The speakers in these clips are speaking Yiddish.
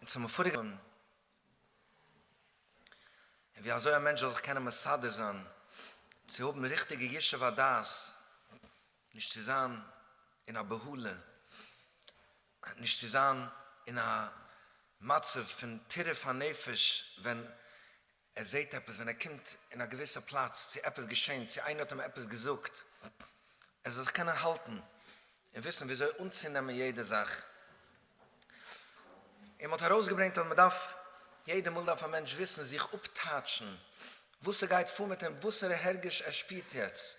אונז האבן פאראיאגער געווען אין ווי אזוי א מענטש זאל זיך קענען מסדר זיין צו האבן ריכטיגע ישוב הדעת, נישט צו זיין אין א בהלה, נישט צו זיין אין א מצב פון טירוף הנפש ווען ער זעט עפעס ווען ער קומט אין א געוויסע פלאץ, צו עפעס געשען, צו איינער האט אים עפעס געזאגט, ער זאל זיך קענען האלטן און וויסן וויאזוי אנצונעמען יעדע זאך. און מ'האט ארויסגעברענגט אז מ'דארף, יעדע מאל דארף א מענטש וויסן זיך אפטייטשן, וואס ס'גייט פאר מיט אים, וואסערע הרגש ער שפירט יעצט,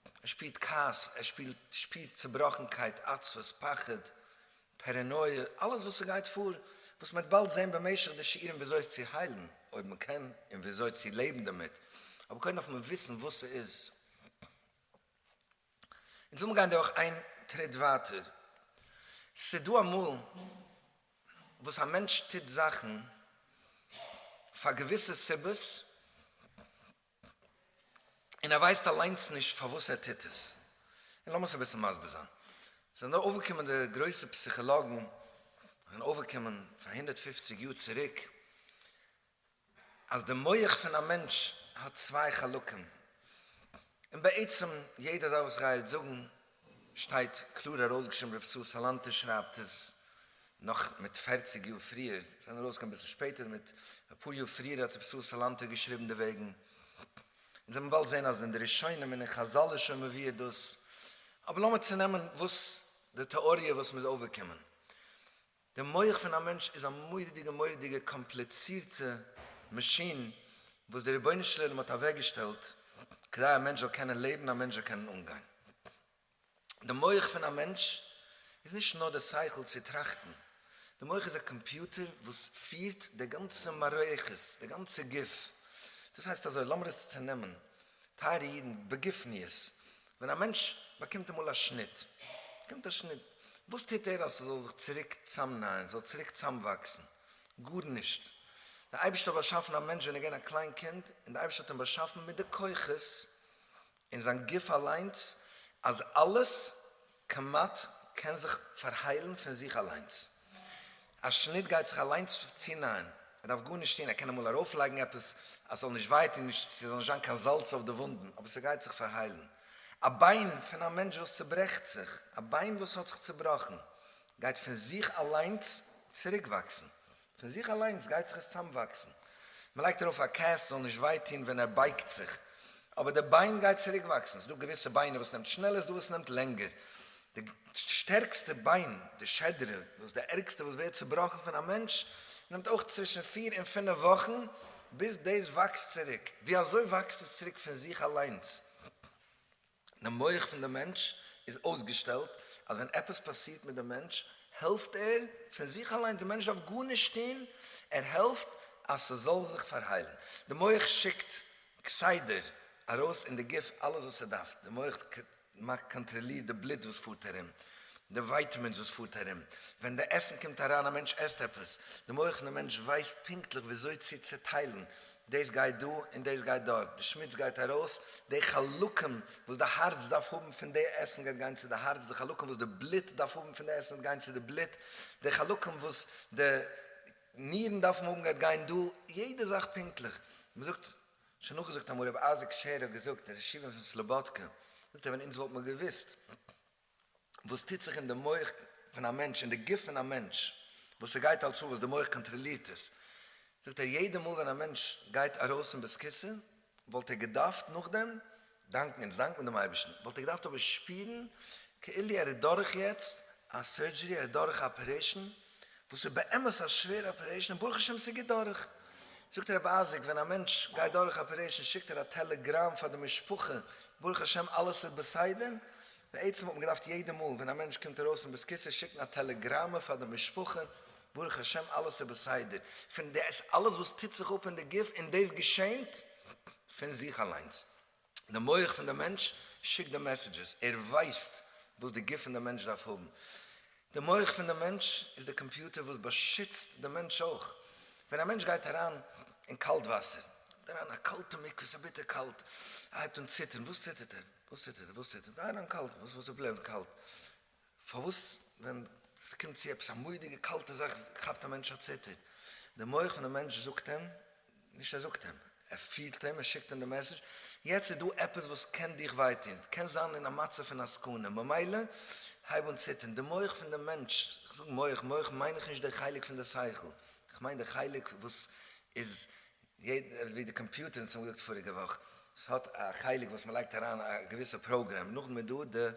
ער שפירט כעס, ער שפירט צעבראכנקייט, עצבות, פחד, פערענויע, אלעס וואס ס'גייט פאר, וואס מ'וועט באלד זען במשך די שיעורים וויאזוי עס צו היילן, אויב מ'קען, און וויאזוי צו לעבן דערמיט, אבער קודם דארף מען וויסן וואס ס'איז. אונז לאמיר גיין דורך איין טריט ווייטער. ס'דא אמאל וואס א מענטש טוט זאכן פאר געוויסע סיבות, און ער ווייסט אליינס נישט פארוואס ער טוט עס. און לאמיר עס אביסל מסביר זיין. ס'זענען דא אויפגעקומען די גרויסע פסיכאלאגן, זענען אויפגעקומען פאר הונדערט פֿופֿציק יאר צוריק, אז די מח פון א מענטש האט צוויי חלקים. און בעצם יעדע זאך וואס איך גיי יעצט זאגן שטייט קלאר ארויסגעשריבן רבי ישראל סאלאנטער שרייבט עס נאך מיט פערציג יאר פריער, עס איז ארויסגעקומען אביסל שפעטער, מיט אפאר יאר פריער האט רבי ישראל סאלאנטער געשריבן דערוועגן, אונז וועלן באלד זען אז אין די ראשונים און אין חזל איז שוין מבואר דאס, אבער לאמיר צונעמען וואס די טעאריע וואס מ'איז אויפגעקומען, די מח פון א מענטש איז א מורא'דיגע מורא'דיגע קאמפליצירטע מאשין וואס דער רבונו של עולם האט אוועקגעשטעלט כדי א מענטש זאל קענען לעבן, א מענטש זאל קענען אנגיין. די מח פון א מענטש איז נישט נאר די שכל צו טראכטן, די מח איז א קאמפיוטער וואס פירט די גאנצע מערכת, די גאנצע גוף. דאס הייסט אזוי, לאמיר עס צענעמען, טייערע אידן, בגופניות, ווען א מענטש באקומט אמאל א שניט, באקומט א שניט, וואס טוט ער אז ס'זאל זיך צוריק צוזאמנייען, ס'זאל צוריק צוזאמוואקסן? גארנישט. דער אייבערשטער האט באשאפן א מענטש ווען ער איז געווען א קליין קינד, און דער אייבערשטער האט אים באשאפן מיט די כוחות אין זיין גוף אליינס, אז אלעס קמץ קען זיך פארהיילן פון זיך אליינס. א שניט גייט זיך אליינס צונייען. ער דארף גארנישט טון. ער קען אמאל ארויפלייגן עפעס אז ס'זאל נישט וויי טון, ס'זאל נישט זיין קיין זאלץ אויף די וואונדן, אבער ס'גייט זיך פארהיילן. א ביין פון א מענטש וואס צוברעכט זיך, א ביין וואס האט זיך צובראכן, גייט פון זיך אליינס צוריקוואקסן. פון זיך אליינס גייט זיך עס צאמוואקסן, מען לייגט ארויף א קעסט ס'זאל נישט וויי טון ווען ער בייגט זיך, אבער די ביין גייט צוריק וואקסן, ס'איז דא געוויסע ביינער וואס נעמט שנעלער, ס'דא וואס נעמט לענגער, די שטערקסטע ביין, די שעדרע, וואס די ערגסטע וואס ווערט צובראכן פון א מענטש, נעמט אויך צווישן פֿיר און פֿינף וואכן ביז דאס וואקסט צוריק, ווי אזוי וואקסט עס צוריק פון זיך אליינס? די מח פון די מענטש איז אויסגעשטעלט אז ווען עפעס פאסירט מיט די מענטש העלפט ער פון זיך אליינס, די מענטש דארף גארנישט טון, ער העלפט אז ס'זאל זיך פארהיילן, די מח שיקט כסדר ארויס אין די גוף אלעס וואס ס'דארף, די מח קאנטראלירט די בלוט וואס פארט ארום, די ווייטעמינס וואס פארט ארום, ווען די עסן קומט אריין, א מענטש עסט עפעס, די מח פון די מענטש ווייסט פונקטליך וויאזוי צו צוטיילן דאס גייט דא און דאס גייט דארט, די שמוץ גייט ארויס, די חלקים וואס די הארץ דארף האבן פון די עסן גייט גיין צו די הארץ, די חלקים וואס די בלוט דארף האבן פון די עסן וועט גיין צו די בלוט, די חלקים וואס די נירן דארפן האבן גייט גיין דא, יעדע זאך פונקטליך. מען זאגט, שוין נאכגעזאגט אמאל, רבי אייזיק שעהר האט געזאגט, דער ר' שמעון פון סלאבאדקע, זאגט ער ווען אונז וואלט מען געוואוסט וואס טוט זיך אין די מח פון א מענטש, אין די גוף פון א מענטש, וואס ס'גייט אלס אן, וואס די מח קאנטראלירט עס, זאגט ער, יעדע מאל ווען א מענטש גייט ארויס אין בזכותו, וואלט ער געדארפט נאכדעם דאנקן, אונז דאנקן דעם אייבערשטן, וואלט ער געדארפט אבער שפירן כאילו ער איז דורך יעצט א סורדזשערי, ער איז דורך א אפערעישן, וואס איז באמת א שווערע אפערעישן און ברוך השם ס'גייט דורך. זאגט רבי אייזיק ווען א מענטש גייט דורך אפערעישן שיקט ער א טעלעגראם פאר די משפחה ברוך השם אלעס איז בסדר. בעצם האט מען געדארפט יעדע מאל ווען א מענטש קומט ארויס פון בית כסא שיקן א טעלעגראמע פאר די משפחה ברוך השם אלעס איז בסדר פון דאס אלעס וואס טוט זיך אפ אין די גוף און דאס געשענט פון זיך אליינס. די מח פון די מענטש שיקט די מעסעדזשעס, ער ווייסט וואס די גוף פון די מענטש דארף האבן. די מח פון די מענטש איז די קאמפיוטער וואס באשיצט די מענטש אויך. ווען א מענטש גייט אריין אין קאלט וואסער, גייט אריין א קאלטע מקווה, ס'איז ביטער קאלט, ער הייבט אן ציטערן, וואס ציטערט ער? וואס ציטערט ער? וואס ציטערט ער? גיי אריין קאלט, וואס איז די פראבלעם מיט קאלט? פארוואס ווען ס'קומט צו עפעס א מודיגע קאלטע זאך כאפט א מענטש א ציטער? די מח פון די מענטש זאגט אים, נישט ער זאגט אים, ער פירט אים, ער שיקט אים די מעסעדזש, יעצט איז דא עפעס וואס קען דיך וויי טון, קען זיין אין א מצב פון א סכנה, ממילא הייב אן ציטערן. די מח פון די מענטש, כ'זאג מח, מח מיין איך נישט דער חלק פון די שכל, כ'מיין די חלק וואס איז ווי די קאמפיוטער וואס האמיר געזאגט פאריגע וואך, ס'האט א חלק וואס מ'לייגט אריין א געוויסע פראגרעם, נאכדעם איז דא די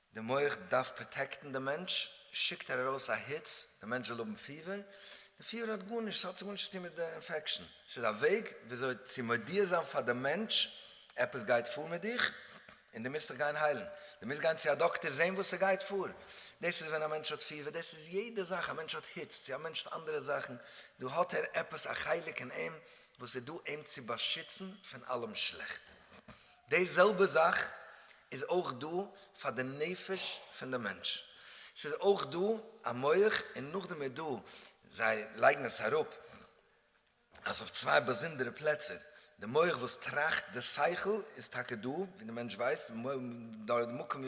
די מח דארף פראטעקטן די מענטש, שיקט ער ארויס א היץ, די מענטש זאל האבן פיבער, די פיבער האט גארנישט, עס האט גארנישט צו טון מיט די אינפעקשאן, עס איז א וועג וויאזוי צו מודיע זיין פאר די מענטש עפעס גייט פאר מיט דיך און די מוזט דיך גיין היילן, די מוזט גיין צו א דאקטער זען וואס עס גייט פאר, דאס איז ווען א מענטש האט פיבער, דאס איז יעדע זאך, א מענטש האט היץ, צו א מענטש האט אנדערע זאכן, דא האט ער עפעס א חלק אין אים וואס איז דא אים צו באשיצן פון אלעם שלעכט. די זעלבע זאך איז אויך דא פאר די נפש פון די מענטש, ס'איז אויך דא א מח און נאכדעם איז דא, זיי לייגן עס אראפ אז אויף צוויי באזונדערע פלעצער, די מח וואס טראכט, די שכל איז טאקע דא ווי די מענטש ווייסט, דארט די מקום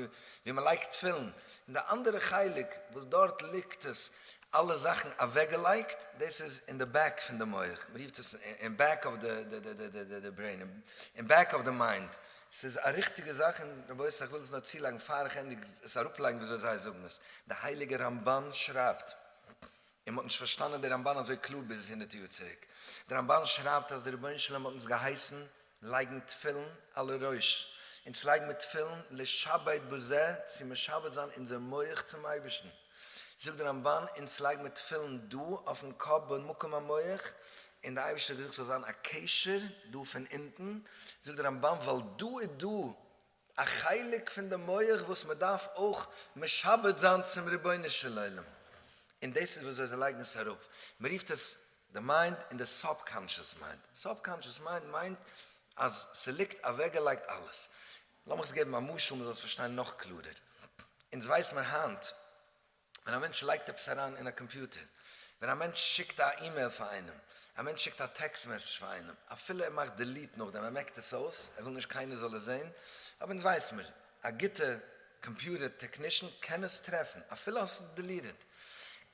ווי מ'לייגט תפילין, און די אנדערע חלק וואס דארט ליגט עס אלע זאכן אוועק געלייגט, דאס איז אין די בעק פון די מח, מען רופט עס אין בעק אוו די ברעין, אין בעק אוו די מיינד, ס'איז א ריכטיגע זאך, און רבותי איך וויל עס נאר צולייגן פאר איך ענדיג עס אראפלייגן וויאזוי זיי זאגן עס, די הייליגע רמבן שרייבט, און מ'האט נישט פארשטאנען די רמבן אזוי קלאר ביז הונדערטע יאר צוריק, די רמבן שרייבט אז די רבונו של עולם האט אונז געהייסן לייגן תפילין על הראש, אונז לייג מיר תפילין לשעבד בזה צו משעבד זיין אונזער מח צום אייבערשטן, זאגט דער רמבן אונז לייג מיר תפילין דא אויפן קאפ במקום המח, און דער אייבערשטער האט געזאגט ס'זאל זיין א קשר דא פון אונטן, זאגט דער רמבן ווייל דא איז דא א חלק פון די מח וואס מען דארף אויך משעבד זיין צום רבונו של עולם, און דאס איז ווי אזוי זיי לייגן עס אראפ, מען רופט עס די מיינד און די סאבקאנשעס מיינד, סאבקאנשעס מיינד מיינט אז ס'ליגט אוועקגעלייגט אלעס, לאמיך עס געבן א משל מען זאל עס פארשטיין נאך קלארער, אונז ווייס מיר היינט ווען א מענטש לייגט עפעס אריין אין א קאמפיוטער, ווען א מענטש שיקט א אימעיל פאר איינעם, א מענטש שיקט א טעקסט מעסעדזש פאר איינעם, אפילו ער מאכט דעליט נאכדעם, ער מעקט עס אויס, ער וויל נישט קיינער זאל עס זען, אבער אונז ווייס מיר, א גוטע קאמפיוטער טעקנישן קען עס טרעפן, אפילו האסט עס דעליטעד.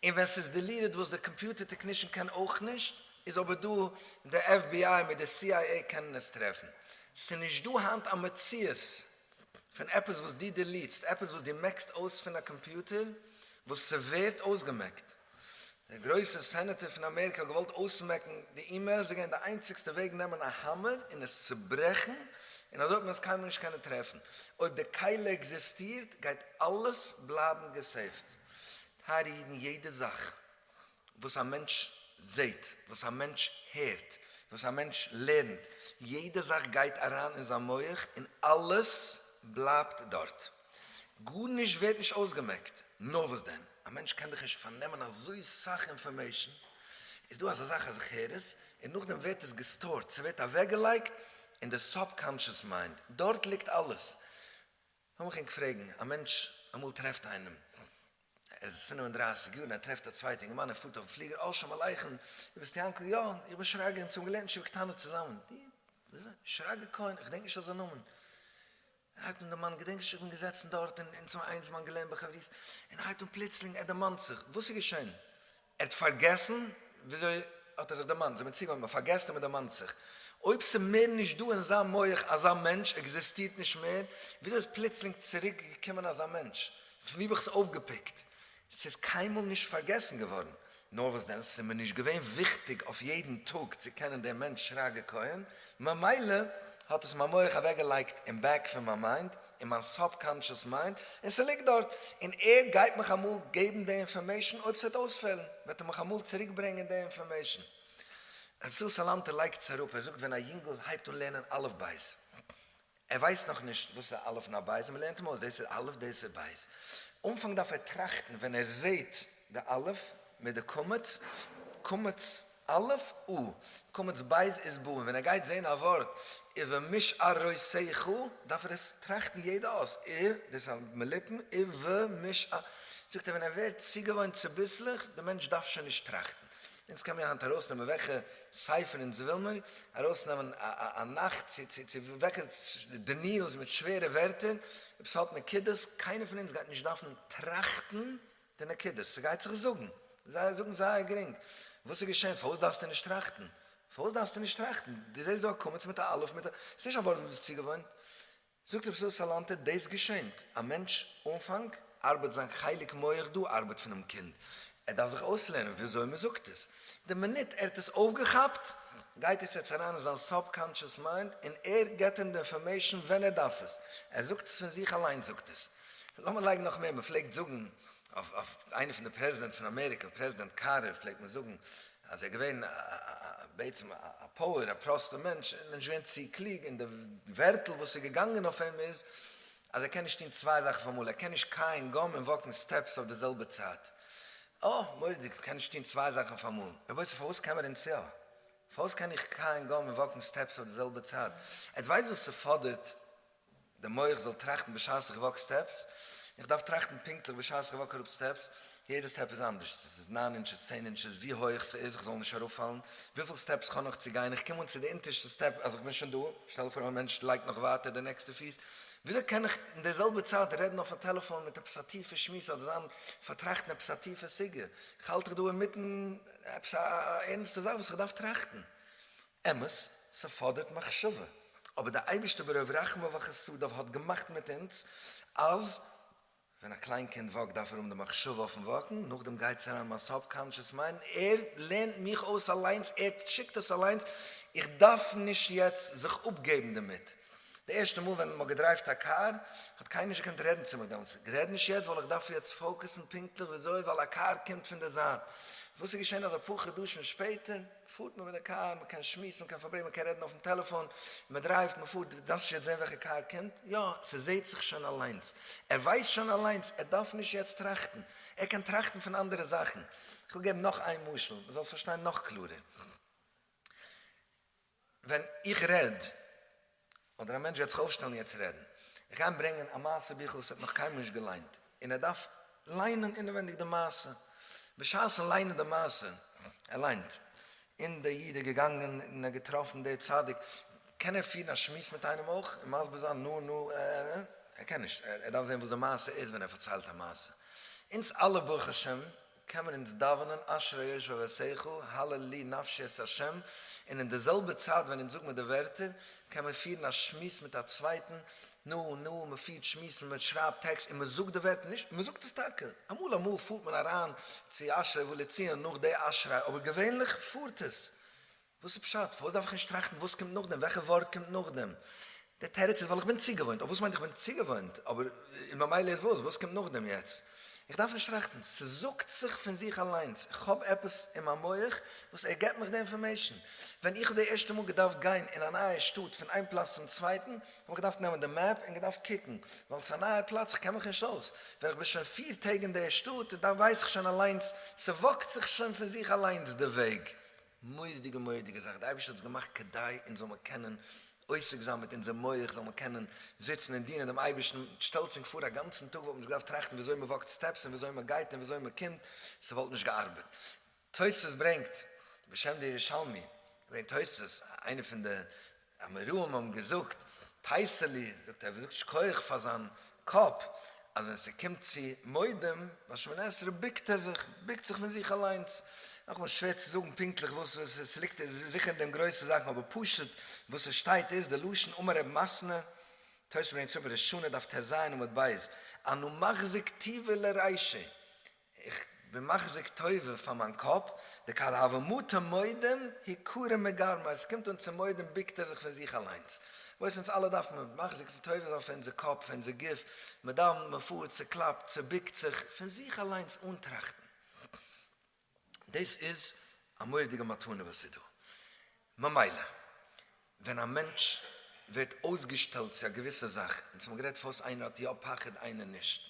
און ווען ס'איז דעליטעד, וואס דער קאמפיוטער טעקנישן קען אויך נישט, איז אבער דא די fbi מיט די cia קענען עס טרעפן. ס'איז נישט דא היינט א מציאות פון עפעס וואס דו דעליטסט, עפעס וואס דו מעקסט אויס פון א קאמפיוטער וואס ס'ווערט אויסגעמעקט. דער גרויסע סענעטער פון אמעריקע האט געוואלט אויסמעקן די אימעילס, ס'איז געווען די איינציגסטע וועג נעמען א האמער און עס צוברעכן, און אזוי האט מען עס קיינמאל נישט קענען טרעפן. אויב די קהלה עקזיסטירט גייט אלעס בלייבן געסעיווט. טייערע אידן, יעדע זאך וואס א מענטש זעהט, וואס א מענטש הערט, וואס א מענטש לערנט, יעדע זאך גייט אריין אין זיין מח און אלעס בלייבט דארט, גארנישט ווערט נישט אויסגעמעקט, נאר וואס דען, א מענטש קען דאך נישט פארנעמען אזוי סאך אינפארמעישן, איז דא אזא זאך אז איך הער עס, און נאכדעם ווערט עס געסטארט, ס'ווערט אוועקגעלייגט אין די סאבקאנטשעס מיינד, דארט ליגט אלעס. לאמיך ענק פרעגן, א מענטש אמאל טרעפט איינעם, ער איז פֿינף און דרײַסיק יאר און ער טרעפט א צווייטע אינגערמאן ער פארט אויפן פליגער, אה שלום עליכם, דו ביסט יענקל, יא, איך בין שרגא אונז האבן געלערנט ישיבה קטנה צוזאמען, די, וויאזוי, שרגא כהן, איך געדענק נישט אזא נאמען, הייבט אן דער מאן, געדענקסט נישט איך בין געזעצן דארט און אונז האבן איינזמאל געלערנט בחברות, און הייבט אן פלוצלינג ער דערמאנט זיך, וואס איז געשען? ער האט פארגעסן וויאזוי האט ער זיך דערמאנט, זיי האבן אים צוגעהויבן, ער פארגעסט און מען דערמאנט זיך. אויב ס'איז מער נישט דא אין זיין מח אזא מענטש, עקזיסטירט נישט מער, וויאזוי איז פלוצלינג צוריק געקומען אזא מענטש? פון וואו האב איך עס אויפגעפיקט? ס'איז קיינמאל נישט פארגעסן געווארן. נאר וואס דען, ס'איז מיר נישט געווען וויכטיג אויף יעדן טאג צו קענען דעם מענטש שרגא כהן, ממילא האט עס מיין מח אוועקגעלייגט אין בעק פון מיין מיינד, אין מיין סאבקאנטשעס מיינד, און ס'ליגט דארט, און ער גייט מיך אמאל געבן די אינפארמעישן, אויב ס'וועט אויספעלן, וועט ער מיך אמאל צוריק ברענגען די אינפארמעישן. רבי ישראל סאלאנטער לייגט עס אראפ, ער זאגט ווען א יונגל הייבט אן לערנען אלף בית, ער ווייסט נאכנישט וואס איז א אלף און א בית, און מ'לערנט אים אויס, דאס איז אלף, דאס איז בית. אנפאנג דארף ער טראכטן, ווען ער זעט די אלף מיט די קמץ, קמץ. א' או, קמץ בית איז בא און ווען ער גייט זעהן א ווארט איבער משארויסיך דארף ער עס טראכטן יעדע אות ע, דאס א מליפן ע ו מש א, זאגט ער ווען ער ווערט צוגעוואוינט צוביסלעך די מענטש דארף שוין נישט טראכטן, אונז קען מיר היינט ארויסנעמען וועלכע ספר אונז וויל מיר ארויסנעמען א נחת צו צו צו וועלכע דניאל מיט שווערע ווערטער אויב עס האט נקודות קיינער פון אונז גייט נישט דארפן טראכטן די נקודות, ס'גייט זיך זאגן, זיי זאגן זייער גרינג, וואס איז געשען, פארוואס דארפסטו נישט טראכטן, פארוואס דארפסטו נישט טראכטן, דו זעסט דא א קמץ מיט א אלף מיט א, ס'איז נישט א ווארט וואס דו ביסט צוגעוואוינט, זאגט רבי ישראל סאלאנטער, דאס געשענט, א מענטש אנפאנג ארבעט זיין חלק מח דא ארבעט פונעם קינד, ער דארף זיך אויסלערנען וויאזוי מען זאגט עס, די מינוט ער האט עס אויפגעכאפט, גייט עס יעצט אריין אין זיין סאב-קאנטשעס מיינד, און ער געט אים די אינפארמעישן ווען ער דארף עס, ער זאגט עס פון זיך אליינס זאגט עס. לאמיר לייגן נאך מער, מען פלעגט זאגן אויף אויף איינע פון די פרעזידענטס פון אמעריקא, פרעזידענט קארטער, פלעגט מען זאגן אז ער איז געווען בעצם א פאוער, א פראסטער מענטש, ער איז נישט געווען צו קלוג, און די ווערטל וואס איז געגאנגען אויף אים איז אז ער קען נישט טון צוויי זאכן אויף אמאל, ער קען נישט קייען גאם און וואקן סטעפס אויף די זעלבע צייט. אה, מורא'דיג, קען נישט טון צוויי זאכן אויף אמאל. רבותי, פארוואס קען מען און צו א? פארוואס קען איך קייען גאם און וואקן סטעפס אויף די זעלבע צייט? עטס ווייסט וואס ס'פאדערט די מח זאל טראכטן בשעת איך וואק סטעפס, איך דארף טראכטן פונקטליך בשעת איך וואק אראפ סטעפס, יעדע סטעפ איז אנדערש, צו ס'איז נײַן אינטשעס, צען אינטשעס, ווי הויעך ס'איז איך זאל נישט אראפפאלן, וויפיל סטעפס כ'האב נאך צו גיין, איך קום אן צו די אונטערשטע סטעפ אז איך בין שוין דא, שטעל פאר א מענטש לייגט נאך ווייטער די נעקסטע פיס, וויאזוי קען איך אין די זעלבע צייט רעדן אויפן טעלעפאן מיט עפעס א טיפע שמועס אדער זיין פארטראכטן עפעס א טיפע סוגיא, כ'האלט איך דא אינמיטן עפעס א ערנסטע זאך וואס איך דארף טראכטן, אמת, ס'פאדערט מחשבה, אבער דער אייבערשטער ברוב רחמיו וחסדיו האט געמאכט מיט אונז אז ווען א קליין קינד וואקט דארף ער האבן די מחשבה אויפן וואקן, נאכדעם גייטס אריין מיין סאבקאנטשעס מיינד, ער לערנט מיך אויס אליינס, ער שיקט עס אליינס, איך דארף נישט יעצט זיך אפגעבן דערמיט. די ערשטע מאל ווען מ'האט געדרייווט א קאר האט קיינער נישט געקענט רעדן צו מיר דעמאלטס, רעד נישט יעצט ווייל איך דארף יעצט פאוקעסן פונקטליך וויאזוי ווייל א קאר קומט פון די זייט, וואס איז געשען אז אפאר חדשים שפעטער, פארט מען מיט די קאר, מען קען שמועסן, מען קען פארברענגען, מען קען רעדן אויפן טעלעפאן, מען דרייווט, מען פארט, דארפסט נישט יעצט זען וועלכע קאר קומט, יא, ס'זעהט זיך שוין אליינס, ער ווייסט שוין אליינס, ער דארף נישט יעצט טראכטן, ער קען טראכטן פון אנדערע זאכן, כ'וועל געבן נאך איין משל, מען זאל עס פארשטיין נאך קלארער, ווען איך רעד. אדער א מענטש וועט זיך אויפשטעלן יעצט רעדן, איך גיי אים ברענגען א מעשה ביכל וואס ער האט נאך קיינמאל נישט געליינט, און ער דארף ליינען אינעווענדיג די מעשה, בשעת'ן ליינען די מעשה, ער ליינט, און דער איד איז געגאנגען און ער האט געטראפן דער צדיק, קען ער פירן א שמועס מיט איינעם אויך און מסביר זיין נו נו ע ע ע, ער קען נישט, ער דארף זען וואס די מעשה איז ווען ער פארציילט א מעשה, אונז אלע ברוך השם קען מען אונז דאווענען אשרי יושבי ועשיחו, הל' לי נפשי את ה', און אין די זעלבע צייט ווען אונז זאג מיר די ווערטער, קען מען פירן א שמועס מיט א צווייטן, נו נו, מען פירט שמועסן, מען שרייבט טעקסט און מען זאגט די ווערטער, נישט, מען זאגט עס טאקע, אמאל אמאל פארט מען אריין צו אשרי ולציון נאך די אשרי, אבער געווענליך פארט עס וואס איז פשט? פארוואס דארף איך נישט טראכטן וואס קומט נאכדעם? וועלכע ווארט קומט נאכדעם? דער תירוץ איז ווייל איך בין צוגעוואוינט. אויף וואס מיינט איך בין צוגעוואוינט? אבער און ממילא איז וואס? וואס קומט נאכדעם יעצט? איך דארף נישט טראכטן. ס'זאגט זיך פון זיך אליינס. איך האב עפעס אין מיין מח וואס ער געבט מיך די אינפארמעישן. ווען איך האב די ערשטע מאל געדארפט גיין אין א נייע שטאט פון איין פלאץ צום צווייטן, האב איך געדארפט נעמען די מעפ און געדארפט קוקן. ווייל ס'איז א נייע פלאץ, איך קען מיך נישט אויס. ווען איך בין שוין פיר טעג אין דער שטאט, דאן ווייס איך שוין אליינס, ס'וואקט זיך שוין פון זיך אליינס די וועג. מורא'דיגע מורא'דיגע זאך, די אייבערשטער האט עס געמאכט כדי אונז זאל מיר קענען עוסק זיין מיט אונזער מח, זאל מיר קענען זיצן און דינען דעם אייבערשטן, שטעלטס ענק פאר א גאנצן טאג וואלט מען זיך געדארפט טראכטן וויאזוי מען וואקט סטעפס און וויאזוי מען גייט און וויאזוי מען קומט, ס'וואלט נישט געארבעט. תוספות ברענגט, בשם די ירושלמי, ברענגט תוספות, איינע פון די אמוראים האבן געזאגט, טייסעלי זאגט ער זאגט שכוח פאר זיין קאפ, אז ווען ס'קומט צו מודים ביי שמונה עשרה בוקט ער זיך, בוקט זיך פון זיך אליינס, נאכאמאל שווער צו זאגן פונקטליך וואס וואס עס ליגט זיכער אין דעם גרויסע זאכן אבער פשוט וואס עס שטייט איז די לשון אמר ר' מסנא, תוס' ברענגט צו אין בראשונה דף ט ז עמוד ב', אנו מחזיק טיבה לרישא, איך בין מחזיק טובה פאר מיין קאפ, דקאל הוה מוטה מודים היא כורע מגרמא, עס קומט אן צו מודים ביקט ער זיך פון זיך אליינס, וואס אונז אלע דארף מען מחזיק צו טובה זיין פאר אונזער קאפ, פאר אונזער גוף, מען דאווענט, מען פארט, צוקלאפט, צוביקט זיך, פון זיך אליינס אן טראכטן. דאס איז א מורא'דיגע מתנה וואס איז דא. ממילא ווען א מענטש ווערט אויסגעשטעלט צו א געוויסע זאך, אונז האבן גערעדט פארוואס איינער האט יא פחד איינער נישט,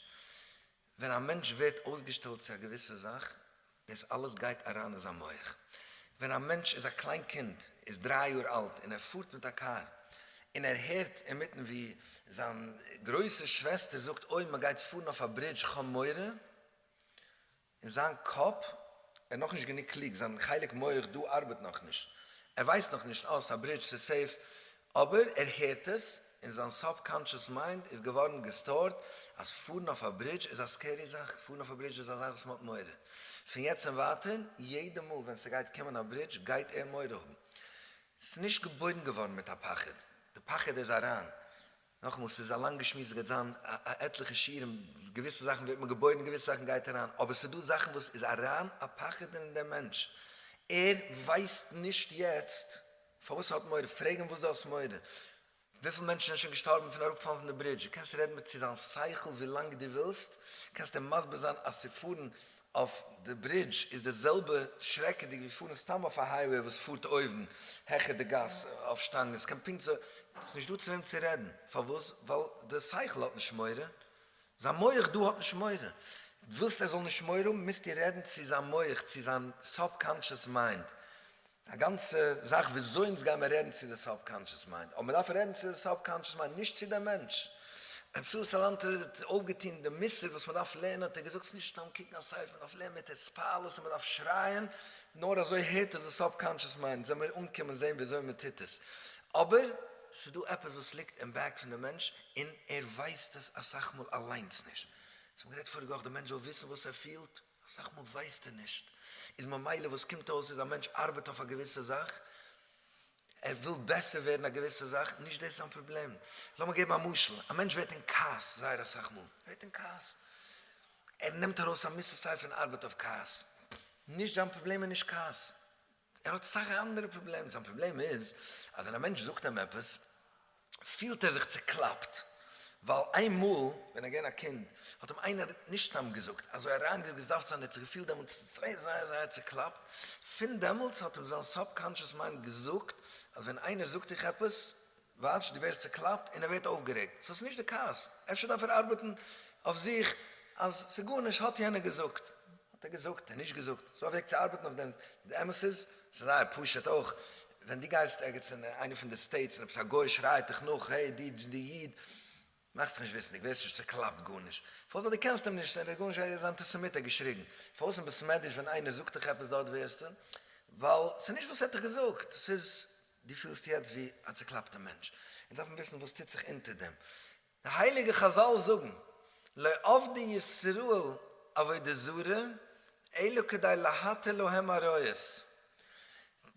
ווען א מענטש ווערט אויסגעשטעלט צו א געוויסע זאך, דאס אלעס גייט אריין אין זיין מח. ווען א מענטש איז א קליין קינד, איז דריי יאר אלט, און ער פארט מיט א קאר, און ער הערט אינמיטן ווי זיין גרויסע שוועסטער זאגט אוי מען גייט פארן אויף א ברידזש כ'האב מורא, אין זיין קאפ, ער איז נאכנישט גענוג קלוג, זיין חלק מח דא ארבעט נאכנישט, ער ווייסט נאכנישט אה ס'איז א ברידזש ס'איז סעיף, אבער ער הערט עס, און זיין סאב-קאנטשעס מיינד איז געווארן געסטארט אז פארן אויף א ברידזש איז א סקערי זאך, פארן אויף א ברידזש איז א זאך וואס מען האט מורא. פון יעצט און ווייטער, יעדע מאל ווען ס'גייט קומען א ברידזש גייט ער מורא האבן. ס'איז נישט געבוירן געווארן מיט א פחד, די פחד איז אריין. נאכאמאל, ס'איז א לאנגע שמועס, ס'גייט זיין א עטליכע שיעורים, געוויסע זאכן ווערט מען געבוירן, געוויסע זאכן גייט אריין, אבער ס'איז דא זאכן וואס איז אריין א פחד אין דעם מענטש, ער ווייסט נישט יעצט, פארוואס האט מורא? פרעג אים וואס דו האסט מורא? וויפיל מענטשן זענען שוין געשטארבן פון אראפפאלן פון די ברידזש? דו קענסט רעדן צו זיין שכל ווילאנג דו ווילסט, קענסט אים מסביר זיין אז צו פארן אויף די ברידזש איז די זעלבע שרעקעדיג ווי פארן סתם אויף א הייוועי וואס פארט אויבן העכער די גאס אויף שטאנגען, ס'קען פונקט אזוי, ס'איז נישט דא צו וועם צו רעדן, פארוואס? ווייל די שכל האט נישט מורא, זיין מח דא האט נישט מורא, ווילסט ער זאל נישט מורא האבן מוזטו רעדן צו זיין מח, צו זיין סאב-קאנטשעס מיינד, א גאנצע זאך וויאזוי אונז גיימער רעדן צו די סאבקאנטשעס מיינד, אבער מען דארף רעדן צו די סאבקאנטשעס מיינד נישט צו דעם מענטש. רבי צבי סאלאנטער האט אויפגעטון די מוסר וואס מען דארף לערנען, האט ער געזאגט ס'איז נישט סתם קוקן א ספר, מען דארף לערנען מיט התפעלות און מען דארף שרייען, נאר אזוי הערט עס די סאבקאנטשעס מיינד, זאל מיר אנקומען זען וויאזוי מען טוט עס, אבער ס'איז דא עפעס וואס ליגט אין בעק פון די מענטש און ער ווייסט עס אסאך מאל אליינס נישט, אונז האבן גערעדט פאריגע וואך, די מענטש זאל וויסן וואס ער פילט. אסאך מאל ווייסט ער נישט, איז ממילא וואס קומט אויס איז א מענטש ארבעט אויף א געוויסע זאך, ער וויל בעסער ווערן א געוויסע זאך, נישט דאס זיין פראבלעם. לאמיר געבן א משל, א מענטש ווערט אין כעס זייער אסאך מאל, ער ווערט אין כעס, ער נעמט ארויס א מוסר סיי פון ארבעט אויף כעס, נישט זיין פראבלעם איז נישט כעס, ער האט סאך אנדערע פראבלעמען, זיין פראבלעם איז אז ווען א מענטש זאגט אים עפעס פילט ער זיך צוקלאפט, ווייל איינמאל ווען ער איז געווען א קינד האט אים איינער נישט סתם געזאגט, אזוי אריינגעזאגט ווי עס דארף צו זיין, ער האט זיך געפילט דעמאלטס זייער זייער זייער צוקלאפט, פון דעמאלטס האט אים זיין סאב-קאנטשעס מיינד געזאגט אז ווען איינער זאגט דיך עפעס, וואטש, דו ווערסט צוקלאפט און ער ווערט אויפגערעגט, סאו ס'נישט די כעס, אפשר דארף ער ארבעטן אויף זיך אז ס'גארנישט, האט יענער געזאגט, האט ער געזאגט, נישט געזאגט, ס'איז א וועג צו ארבעטן אויף דעם, די אמת איז, ס'איז זייער פשוט אויך, ווען דו גייסט ערגעץ אין איינע פון די סטעיטס און עפעס א גוי שרייט דיך נאך, העי די איד, מאך זיך נישט וויסנדיג, ווער ס'נישט צוקלאפט גארנישט, פארוואס? ווייל דו קענסט אים נישט, ער איז גארנישט, ער איז אנטיסעמיט האט געשריגן, פארוואס אין בית מדרש ווען איינער זאגט דיך עפעס דארט ווערסטו, ווייל ס'איז נישט וואס ער האט דיך געזאגט, ס'איז דו פילסט יעצט ווי א צוקלאפטע מענטש, אונז דארפן וויסן וואס טוט זיך אונטער דעם, די הייליגע חזל זאגן, לא עבדי ישראל עבודה זרה אלא כדי להתיר להם עריות,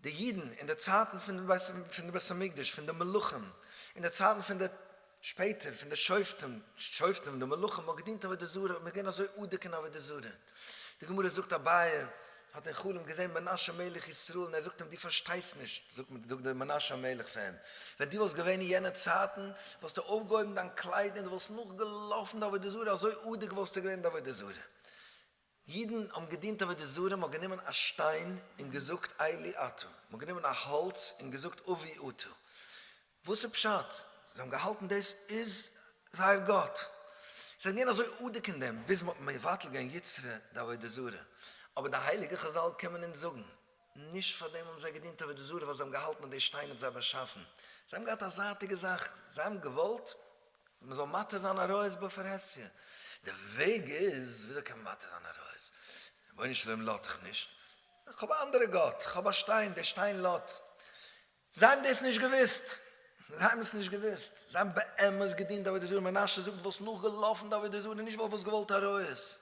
די אידן אין די צייטן פון די בית המקדש, פון די מלכים, אין די צייטן פון די. שפעטער פון די שופטים, שופטים, די מלכים האט געדינט עבודה זרה, און איז געווען אזוי אדוק אין עבודה זרה. די גמרא זאגט אביי האט אין חלום געזען מנשה מלך ישראל און ער זאגט אים דו פארשטייסט נישט, זאגט דער מנשה מלך פאר אים, ווען דו וואלסט געווען אין יענע צייטן וואלסטו אויפגעהויבן דיין קלייד און דו וואלסט נאכגעלאפן די עבודה זרה אזוי אדוק וואלסטו געווען אין די עבודה זרה. ייִדן האָבן געדינט עבֿודה זרה, מע האָט גענומען אַ שטיין און געזאָגט אלי אַתּה, מע האָט גענומען אַ האָלץ און געזאָגט אָבי אַתּה. וואָס איז פּשט? זיי האָבן געהאַלטן דאָס איז זייער גאָט. זיי זענען געווען אַזוי אָדוק אין דעם, ביז מע האָט מבֿטל געווען יצרן די עבֿודה זרה. אָבער די הייליגע חזל קומען אונדז זאָגן, נישט פאר דעם האבן זיי געדינט עבודה זרה ווייל זיי האבן געהאלטן אז די שטיין האט זיי באשאפן, זיי האבן געהאט א זייטיגע זאך, זיי האבן געוואלט מען זאל מתיר זיין עריות בפרהסיא, די וועג איז וויאזוי קען מען מתיר זיין עריות, רבונו של עולם לאט איך נישט, איך האב א אנדערע גאט, איך האב א שטיין, די שטיין לאט, זיי האבן דאס נישט געוואוסט. זיי האבן עס נישט געוואוסט. זיי האבן באמת געדינט עבודה זרה. מנשה זאגט, דו וואלסט נאכגעלאפן די עבודה זרה, נישט ווייל דו וואלסט געוואלט ארויס.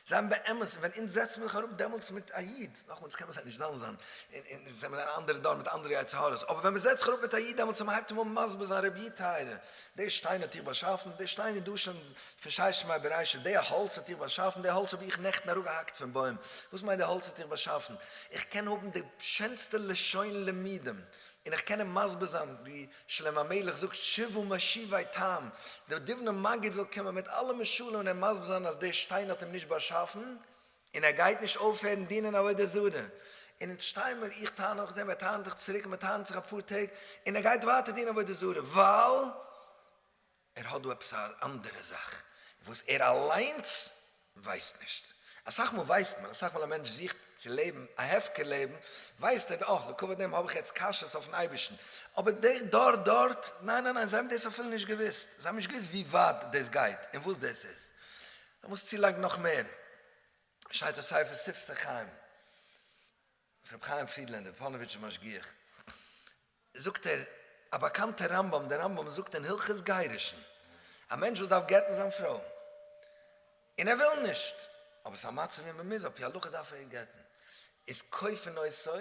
זיי האבן באמת, און ווען אונז זעצן מיר זיך אראפ דעמאלטס מיט א איד, נאכאמאל, אונז קענען זיי נישט דן זיין, און אונז זעמיר אין אן אנדערע דור מיט אנדערע יצר הרע'ס, אבער ווען מען זעצט זיך אראפ מיט א איד דעמאלטס און מען הייבט אים אן מסביר זיין, רביה טייערער, די שטיין האט איר באשאפן, די שטיין איז דא שוין, פארשטייסט מיין בראשית? די האלץ האט איר באשאפן? די האלץ האב איך נעכטן אראפגעהאקט פון בוים? וואס מיינט די האלץ האט איר באשאפן? איך קען האבן די שענסטע לשון לימודים און איך קען אים מסביר זיין ווי שלמה המלך זאגט שבעו משיבי טעם, די דובנא מגיד זאל קומען מיט אלע משלים און אים מסביר זיין אז די שטיין האט אים נישט באשאפן און ער גייט נישט אויפהערן דינען עבודה זרה, און אונז שטיי מיר, איך טענה אויך דעם, ער טענה'ט אויך צוריק, מען טענה'ט זיך אפאר טעג און ער גייט ווייטער דינען עבודה זרה ווייל ער האט דא עפעס א אנדערע זאך וואס ער אליינס ווייסט נישט. אסאך מאל ווייסט מען, אסאך מאל א מענטש זוכט צו לעבן א הפקר לעבן, ווייסט ער אה לכבוד דעם האב איך יעצט קשיות אויפן אייבערשטן, אבער דער דור דארט, ניין ניין ניין, זיי האבן דאס אפילו נישט געוואוסט, זיי האבן נישט געוואוסט ווי ווייט דאס גייט און וואס דאס איז. לאמיר עס צולייגן נאך מער, שטייט אין ספר שפת החיים, רבי חיים פרידלענדער, פאנאוויטשער משגיח, זאגט ער, א באקאנטער רמב ם, דער רמב ם זאגט אין הלכות גירושין, א מענטש וואס דארף גט'ן זיין פרוי, און ער וויל נישט, אבער ס'איז א מצב ווי מען מוז, על פי הלכה דארף ער איר גט'ן, איז כופין אותו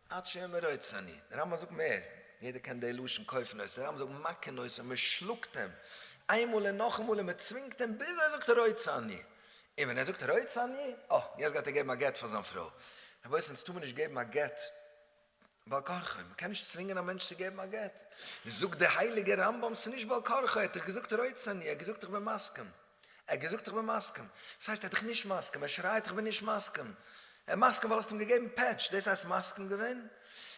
עד שיאמר רצה אני, דער רמב ם זאגט מער, יעדער קען די לשון כופין אותו, דער רמב ם זאגט מכין אותו, מען שלאגט אים, איינמאל און נאכאמאל און מען צווינגט אים ביז ער זאגט רצה אני. און ווען ער זאגט רוצה אני, אה, יעצט גייט ער געבן א גט פאר זיין פרוי. רבותי, אונז טאר מען נישט געבן א גט בעל כרחו, מען קען נישט צווינגען א מענטש צו געבן א גט. זאגט דער הייליגער רמב ם, ס'איז נישט בעל כרחו, ער האט דיך געזאגט רוצה אני, ער האט געזאגט איך בין מסכים. ער האט געזאגט איך בין מסכים. וואס הייסט ער האט דיך נישט מסכים, ער שרייט איך בין נישט מסכים. ער איז מסכים ווייל האסט אים געגעבן פעטש, דאס הייסט מסכים געווען?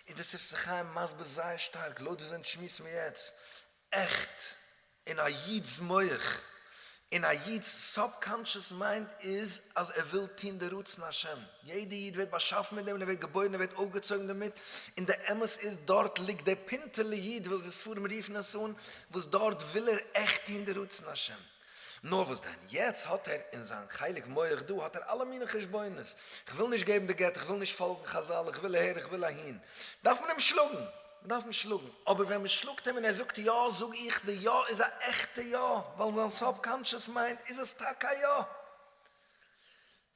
איז דער ספר חיים מסביר זייער שטארק, לויט וואס זענען די שמועסן מיר יעצט עכט אין א איד'ס מח, אין א איד'ס סאבקאנטשעס מיינד איז אז ער וויל טון די רצון השם, יעדע איד ווערט באשאפן מיט דעם און ער ווערט געבוירן און ווערט אויפגעצויגן דערמיט, און די אמת איז דארט ליגט דער פינטעלע איד ווי אזוי ספרים רופן עס אן, וואס דארט וויל ער עכט טון די רצון השם. נאר וואס דען, יעצט האט ער אין זיין חלק מח דא האט ער אלע מיני חשבונות, כ'וויל נישט געבן די גט, כ'וויל נישט פאלגן חזל, כ'וויל אהער, כ'וויל אהין, דארף מען אים שלאגן, מ'דארף אים שלאגן, אבער ווען מ'שלאגט אים און ער זאגט יא, זאג איך די יא איז א עכטע יא, ווייל אין זיין סאבקאנטשעס מיינד איז עס טאקע א יא.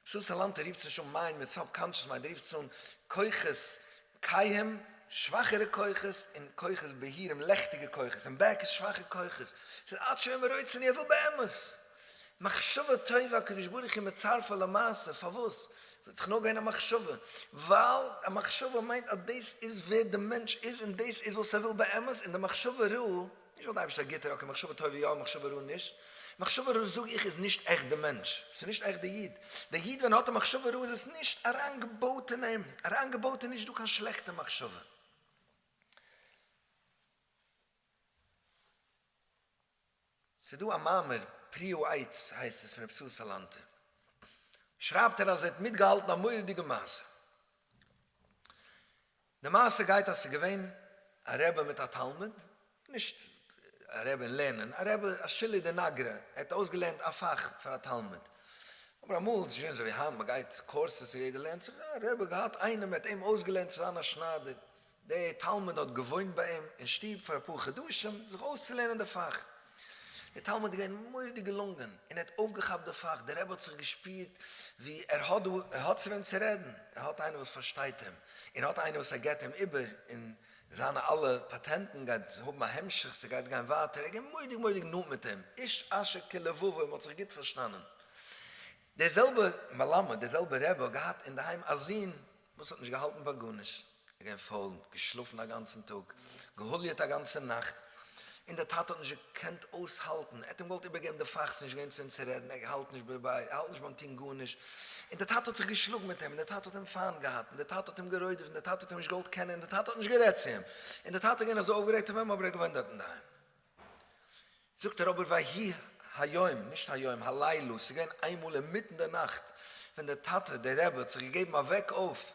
צו סאלאנטער רופט עס נישט אן מיינד מיט סאבקאנטשעס מיינד, ער רופט עס אן כוחות קייהם, שוואכערע כוחות, און כוחות בהירים, לעכטיגע כוחות, און בעק איז שוואכע כוחות. ס'איז עד שאין מרוצין, ער וויל באמת. מחשבה טובה הקדוש ברוך הוא מצרפה למעשה, פארוואס זאל איך נאכגיין א מחשבה? ווייל א מחשבה מיינט אז דאס איז ווער די מענטש איז און דאס איז וואס ער וויל באמת, און די מחשבה רעה, נישט ווייל די אייבערשטער איז א גוטער, אקעי מחשבה טובה יא מחשבה רעה נישט, מחשבה רעה זאג איך איז נישט עכט די מענטש, ס'איז נישט עכט די איד, די איד ווען ער האט א מחשבה רעה איז עס נישט אריינגעבויט אין אים, אריינגעבויט איז נישט דא קיין שלעכטע מחשבה. ס'איז דא א מאמר, פריעו עץ הייסט עס, פון רבי סער סאלאנטער, שרייבט ער אז ער האט מיטגעהאלטן א מורא'דיגע מעשה. די מעשה גייט אז ס'איז געווען א רבי מיט א תלמיד, נישט א רבי אין לערנען, א רבי א שילער די נגרע, ער האט אויסגעלערנט א פאך פאר א תלמיד, אבער אמאל איז נישט געווען אזויווי היינט, מ'גייט קורסעס און יעדער לערנט זיך, א רבי האט געהאט איינעם, ער האט אים אויסגעלערנט צו זיין א שניידער, דער תלמיד האט געוואוינט ביי אים אין שטוב פאר אפאר חדשים זיך אויסצולערנען די פאך. דער תלמיד איז געווען מורא'דיג געלונגען און ער האט אויפגעכאפט די פאך, דער רבי האט זיך געשפירט ווי ער האט דא, ער האט צו וועם צו רעדן, ער האט איינער וואס פארשטייט אים און ער האט איינער וואס ער געבט אים איבער און זיינע אלע פאטענטן גייט האבן א המשך, ס'גייט גיין ווייטער, ער איז געווען מורא'דיג מורא'דיג נאנט מיט אים, איש אשר כלבבו, מ'האט זיך גוט פארשטאנען. דער זעלבער מלמד, דער זעלבער רבי האט געהאט אינדערהיים א זון, וואס האט נישט געהאלטן ביי גארנישט, איז געווען פויל, נישט געשלאפן א גאנצן טאג, געהוליעט א גאנצע נאכט, און דער טאטע האט נישט געקענט אויסהאלטן, ער האט אים געוואלט איבערגעבן די פאכס, נישט געווען צו אים צו רעדן, ער האלט נישט בערביי, ער האלט נישט ביים טון גארנישט, און דער טאטע האט זיך געשלאגן מיט אים, און דער טאטע האט אים פיינט געהאט, און דער טאטע האט אים גערוידעוועט, און דער טאטע האט אים נישט געוואלט קענען, און דער טאטע האט נישט גערעדט צו אים, און דער טאטע איז געווען אזוי אויפגערעגט אויף אים, אבער ער איז געווען דארטן אינדערהיים. זאגט ער אבער ויהי היום, נישט היום, הלילה, ס'איז געווען איינמאל אינמיטן די נאכט ווען דער טאטע, דער רבי, האט זיך געגעבן א וועק אויף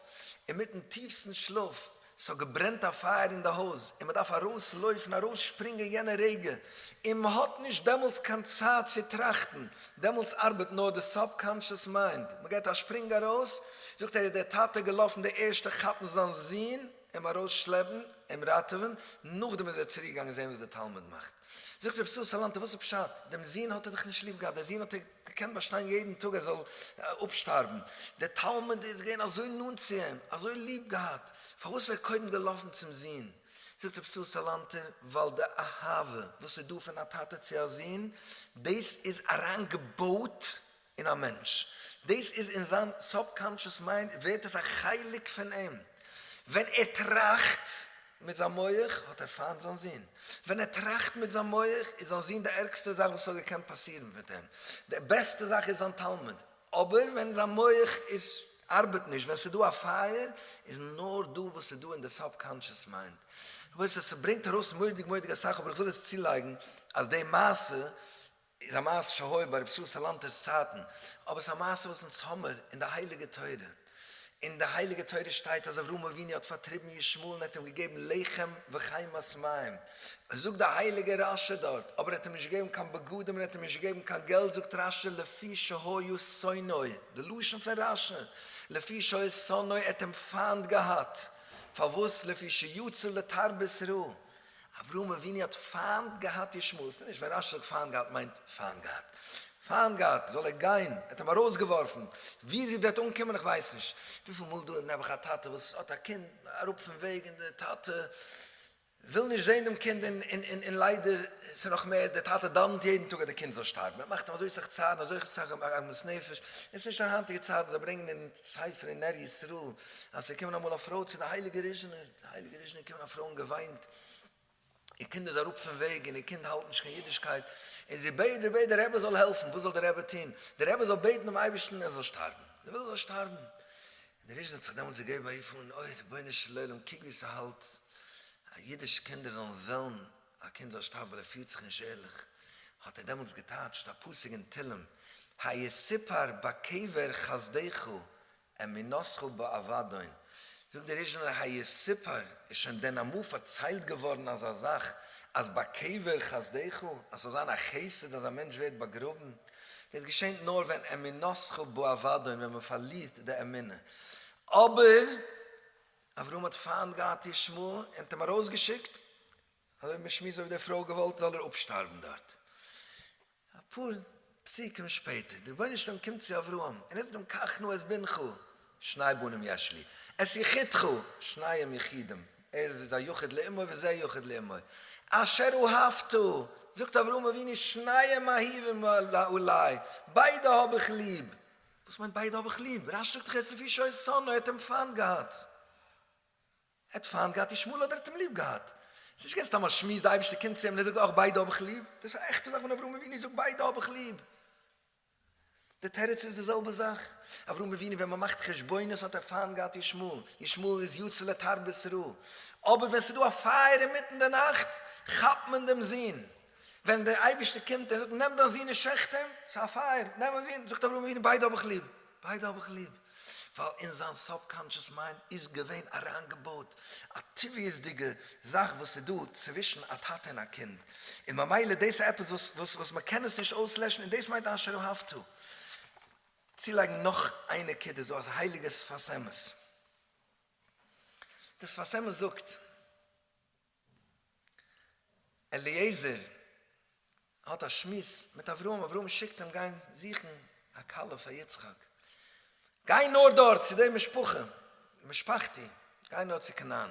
אינמיטן טיפסטן שלאף, ס'האט געברענט א פייער אין די הויז און מ'דארף ארויסלויפן, ארויסשפרינגען יענע רגע, און מ'האט נישט דעמאלטס קיין צייט צו טראכטן, דעמאלטס ארבעט נאר די סאב-קאנשעס מיינד, מ'געט א שפרינג ארויס, זאגט ער איז דער טאטע געלאפן די ערשטע כאפן זיין זון, אים ארויס שלעפן, אים ראטעווען, נאכדעם איז ער צוריק געגאנגען זען וואס די תלמיד מאכט. זאגט רבי ישראל סאלאנטער וואס איז פשט, דעם זוהן האט ער דאך נישט ליב געהאט, דער זוהן האט ער געקענט באשטיין יעדן טאג ער זאל אפשטארבן, דער תלמיד איז געווען אזוי נאנט צו אים, אזוי ליב געהאט, פארוואס איז ער קודם געלאפן צום זוהן? זאגט רבי ישראל סאלאנטער ווייל די אהבה וואס איז דא פון א טאטע צו א זוהן, דאס איז אריין געבויט אין א מענטש, דאס איז אין זיין סאבקאנטשעס מיינד ווערט עס א חלק פון אים, ווען ער טראכט מיט זיין מח האט ער פיינט זיין זון, ווען ער טראכט מיט זיין מח איז זיין זון די ערגסטע זאך וואס ס'האט געקענט פאסירן מיט אים, די בעסטע זאך איז זיין תלמיד, אבער ווען זיין מח איז ארבעט נישט, ווען ס'איז דא א פייער, איז נאר דא וואס איז דא אין די סאבקאנטשעס מיינד. רבותי ס'ברענגט ארויס מורא'דיג מורא'דיג אסאך אבער איך וויל עס צולייגן אז די מעשה איז א מעשה שהוי ביי רב שאול סאלאנטער'ס צייטן, אבער ס'איז א מעשה וואס אונז האמיר אין די הייליגע תורה. אין די הייליגע תורה שטייט אז אברהם אבינו האט פארטריבן ישמעאל און ער האט אים געגעבן לחם וחמת מים. זאגט די הייליגע רשי דארט, אבער ער האט אים נישט געגעבן קיין בגדים און ער האט אים נישט געגעבן קיין געלט זאגט רשי לפי שהיו שונאי, די לשון פון רשי, לפי שהיו שונאי ער האט אים פיינט געהאט, פארוואס לפי שיצא לתרבות רעה. אברהם אבינו האט פיינט געהאט ישמעאל, ס'איז נישט ווען רשי זאגט פיינט געהאט מיינט פיינט געהאט, פיינט געהאט זאל ער גיין, ער האט אים ארויסגעווארפן, ווי זי וועט אנקומען איך ווייס נישט, וויפיל מאל דא איז נעבעך א טאטע וואס האט א קינד אראפ פון וועג און די טאטע וויל נישט זען דעם קינד און ליידער ס'איז נאך מער די טאטע דאווענט יעדן טאג אז די קינד זאל שטארבן, ער מאכט אים אזוי סאך צער און אזוי סאך עגמת נפש, און ס'נישט אין היינטיגע צייטן, זיי ברענגן אין ספר אין נר ישראל אז ס'איז געקומען אמאל א פרוי צו די הייליגע ריזשענער, די הייליגע ריזשנער קומען א פרוי אן געוויינט איר קינד איז אראפ פון וועג און איר קינד האלט נישט קיין אידישקייט און זי בעט דער בעט דער רבי זאל העלפן וואס זאל דער רבי טון דער רבי זאל בעטן דעם אייבערשטן ער זאל שטארבן זי וויל ער זאל שטארבן און די ריזשנער האט זיך דעמאלטס געגעבן א רוף אן אוי רבונו של עולם קוק ווי ס'האלט א אידיש קינדער זאלן וועלן א קינד זאל שטארבן ווייל ער פירט זיך נישט ערליך האט ער דעמאלטס געטייטשט א פסוק אין תהלים היה סיפר בקבר חסדיך אין מנוסחו באבדון זאגט דער ריזשינער היה סיפור, איז שוין דען אמאל פארציילט געווארן אזא זאך אז ביי קבר חסדיך אז ס'זאל זיין א חסד אז א מענטש ווערט באגראבן? דאס געשענט נאר ווען אין מנוסחו באבדון ווען מ'פארלירט די אמונה. אבער אברהם האט פיינט געהאט ישמעאל און האט אים ארויסגעשיקט אזוי האט מען שמועס אויב די פרוי געוואלט זאל ער אפשטארבן דארט. אפאר פסוקים שפעטער, די רבונו של עולם קומט צו אברהם און ער זאגט אים קחנו את בנך, שני בנים יש לי, את יחידך, שניהם יחידים, ער איז א יחיד לאמו וזה יחיד לאמו, אשר אהבת, זאגט אברהם אבינו שניהם אהיבים אלי, ביידע האב איך ליב, וואס מיינט ביידע האב איך ליב, רשי זאגט דאך ער איז לפי שעות שונא, ער האט אים פיינט געהאט. ער האט פיינט געהאט ישמעאל אדער ער האט אים ליב געהאט? עס איז נישט געווען סתם א שמועס, די אייבערשטער קומט צו אים און ער זאגט אויך ביידע האב איך ליב, דאס איז א עכטע זאך ווען אברהם אבינו זאגט ביידע האב איך ליב. די תירוץ איז די זעלבע זאך, אברהם אבינו ווען מען מאכט חשבונות האט ער פיינט געהאט ישמעאל, ישמעאל איז יצא לתרבות רעה, אבער ווען עס איז דא א פייער אינמיטן די נאכט כאפט מען דעם זון, ווען דער אייבערשטער קומט און זאגט נעם דיין זון און שעכט אים, עס איז א פייער, נעם דיין זון, זאגט אברהם אבינו ביידע האב איך ליב. ביידע האב איך ליב, ווייל אין זיין סאבקאנטשעס מיינד איז געווען אריינגעבויט א טבעיות'דיגע זאך וואס איז דא צווישן א טאטע און א קינד, און ממילא דאס איז עפעס וואס מען קען עס נישט אויסלעשן, און דאס מיינט אשר אהבת. צולייגן נאך איין נקודה, ס'דא א הייליגער שפת אמת, די שפת אמת זאגט. אליעזר האט א שמועס מיט אברהם, אברהם שיקט אים גיין זוכן א כלה פאר יצחק, גיי נאר דארט צו די משפחה, משפחתי, גיי נאר צו כנען,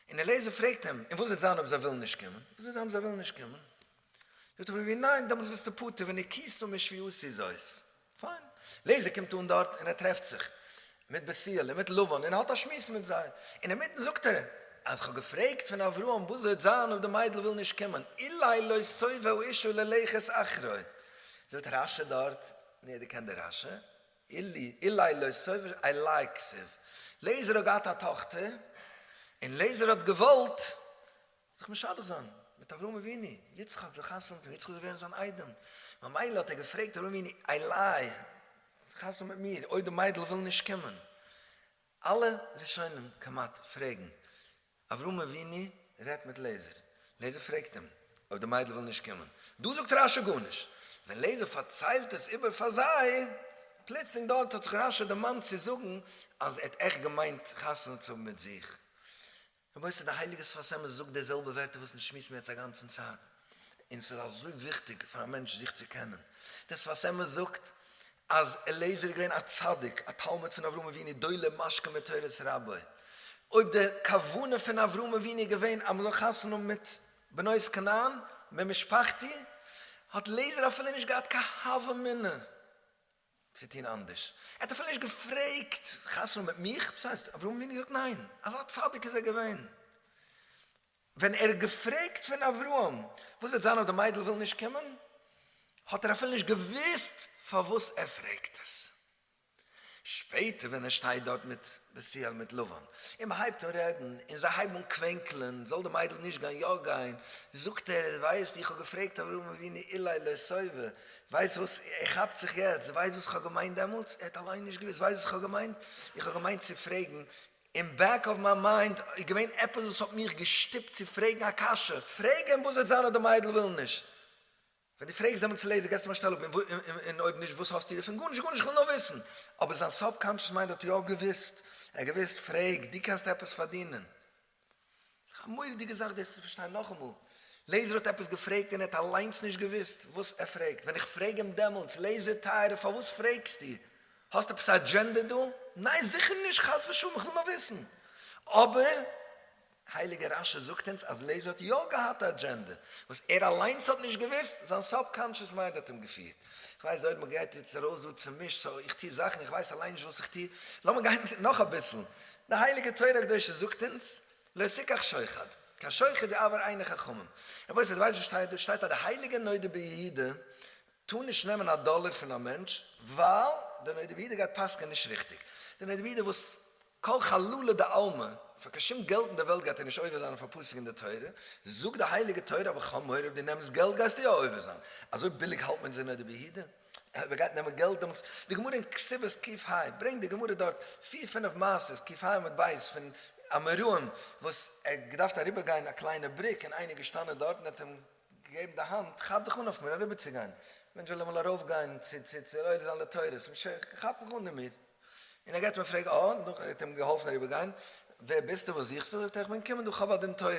און אליעזר פרעגט אים, און וואס וועט זיין אויב זיי ווילן נישט קומען, וואס וועט זיין אויב זיי ווילן נישט קומען? זאגט ער ווי ניין, דעמאלטס ביסטו פטור ונקיסו משפיותי זאת. פיין. לעזער קומט אן דארט און ער טרעפט זיך מיט בעסיל און מיט לבן און האט א שמועס מיט זיי, אינמיטן זאגט ער אז כ'האב געפרעגט פון אברהם וואס וועט זיין אויב די מיידל וויל נישט קומען, אולי לא סובב אישה ללכת אחרי. זאגט רש י דארט, ניע דו קענסט די רש י? אילי, אולי לא סובב אישה, איי לייקס איף. לעזער האט געהאט א טאכטער און לעזער האט געוואלט זיך משדך זיין מיט אברהם אבינו, יצחק וחתונה מיט אים, יצחק זאל ווערן זיין איידעם, ממילא האט ער געפרעגט אברהם אבינו, עליי, חתונה מיט מיר, אויב די מיידל וויל נישט קומען, אלע ראשונים כמעט פרעגן, אברהם אבינו רעדט מיט לעזער, לעזער פרעגט אים, אויב די מיידל וויל נישט קומען, דא זאגט רשי גארנישט, ווען לעזער פארציילט עס איבער פאר זיי, פלוצלינג דארט האט זיך רשי דערמאנט צו זאגן אז ער האט עכט געמיינט חתונה צו האבן מיט זיך, רבותי די הייליגע שפת אמת זאגט די זעלבע ווערטער וואס מיר שמועסן יעצט א גאנצן צייט, און ס'איז אזוי וויכטיג פאר א מענטש זיך צו קענען, די שפת אמת זאגט אז אליעזר איז געווען א צדיק, א תלמיד פון אברהם אבינו, דולה משקה מתורת רבו, אויב די כוונה פון אברהם אבינו איז געווען אז מ'זאל חתונה האבן מיט בנות כנען ממשפחתי, האט אליעזר אפילו נישט געהאט קיין הוה אמינא צו טון אנדערש. ער האט אפילו נישט געפרעגט חתונה מיט מיך, וואס הייסט? אברהם אבינו האט געזאגט ניין. אזא צדיק איז ער געווען. ווען ער האט געפרעגט פון אברהם וואס וועט זיין אויב די מיידל וויל נישט קומען, האט ער אפילו נישט געוואוסט פארוואס ער פרעגט עס. שפעטער ווען ער שטייט דארט מיט בשיעל מיט לבן אים הייבט אן רעדן און זיי הייבן אן קווענקלען זאל די מיידל נישט גיין יא גיין זאגט ער ווייסט איך האב געפרעגט אברהם אבינו אילי לא סובה ווייסט וואס ער כאפט זיך יעצט ווייסט וואס איך האב געמיינט דעמאלטס ער האט אליין נישט געוויסט ווייסט וואס איך האב געמיינט איך האב געמיינט צו פרעגן אין בעק אוו מיי מיינד איז געווען עפעס וואס האט מיך געשטופט צו פרעגן א קשיא פרעג אים וואס וועט זיין אויב די מיידל וויל נישט ווען דו פרעגסט דעם צולעזער געסטו אים א שטעל אפ, און אויב נישט וואס האסטו דערפון? גארנישט, גארנישט, איך וויל נאר וויסן. אבער זיין סאבקאנטשעס מיינד האט יא געוואוסט, ער האט געוואוסט, פרעג, דו קענסט עפעס פארדינען? ס'איז א מורא'דיגע זאך דאס צו פארשטיין, נאכאמאל, לעזער האט עפעס געפרעגט און ער האט אליינס נישט געוואוסט וואס ער פרעגט, ווען איך פרעג אים דעמאלטס, לעזער טייערער פארוואס פרעגסטו? האסט עפעס א אדזשענדע דא? ניין זיכער נישט, חס ושלום, איך וויל נאר וויסן. אבער הייליגער רש י זאגט אונז אז לעזער האט יא געהאט א אדזשענדע וואס ער אליינס האט נישט געוואוסט, זיין סאבקאנטשעס מיינד האט אים געפירט. איך ווייס אויב מען גייט יעצט ארויס דא צומישט סאו איך טוה זאכן איך ווייס אליין נישט וואס איך טוה, לאמיר גיין נאך אביסל, די הייליגע תורה הקדושה זאגט אונז לא תיקח שוחד, קיין שוחד די עבר עיני חכמים. רבותי די ווייסט וואס שטייט דא? שטייט אז די הייליגע נודע ביהודה טאר נישט נעמען א דאלער פון א מענטש ווייל די נודע ביהודה גייט פסק'ען נישט ריכטיג, די נודע ביהודה וואס כל חלולא דעלמא, פאר קיין שום געלט אין דער וועלט גייט ער נישט עובר זיין אויף א פסוק אין דער תורה, זאגט די הייליגע תורה, אבער כ'האב מורא אויב דו נעמסט געלט גייסטו יא עובר זיין, אזוי ביליג האלט מען אונז אין אויף די ביהודה? אויב ער גייט נעמען געלט דעמאלטס, די גמרא אין כסובות קיף ה ברענגט די גמרא דארט פיר פינף מעשות קיף ה עמוד ב' פון א מרואן וואס ער האט געדארפט אריבער גיין א קליינע בריק און איינער איז געשטאנען דארט און האט אים געגעבן די האנט, כאפ דיך אן אויף מיר אריבער צו גיין, מענטש וויל אמאל ארויף גיין צו עולה זיין לתורה, כאפ מיך אן דערמיט. און ער געט מיר פרעג אהן, נאכדעם וואס ער האט אים געהאלפן אריבער גיין, ווער ביסטו, וואס זוכסטו, זאגט ער, איך בין געקומען דא, כ'האב א דין תורה,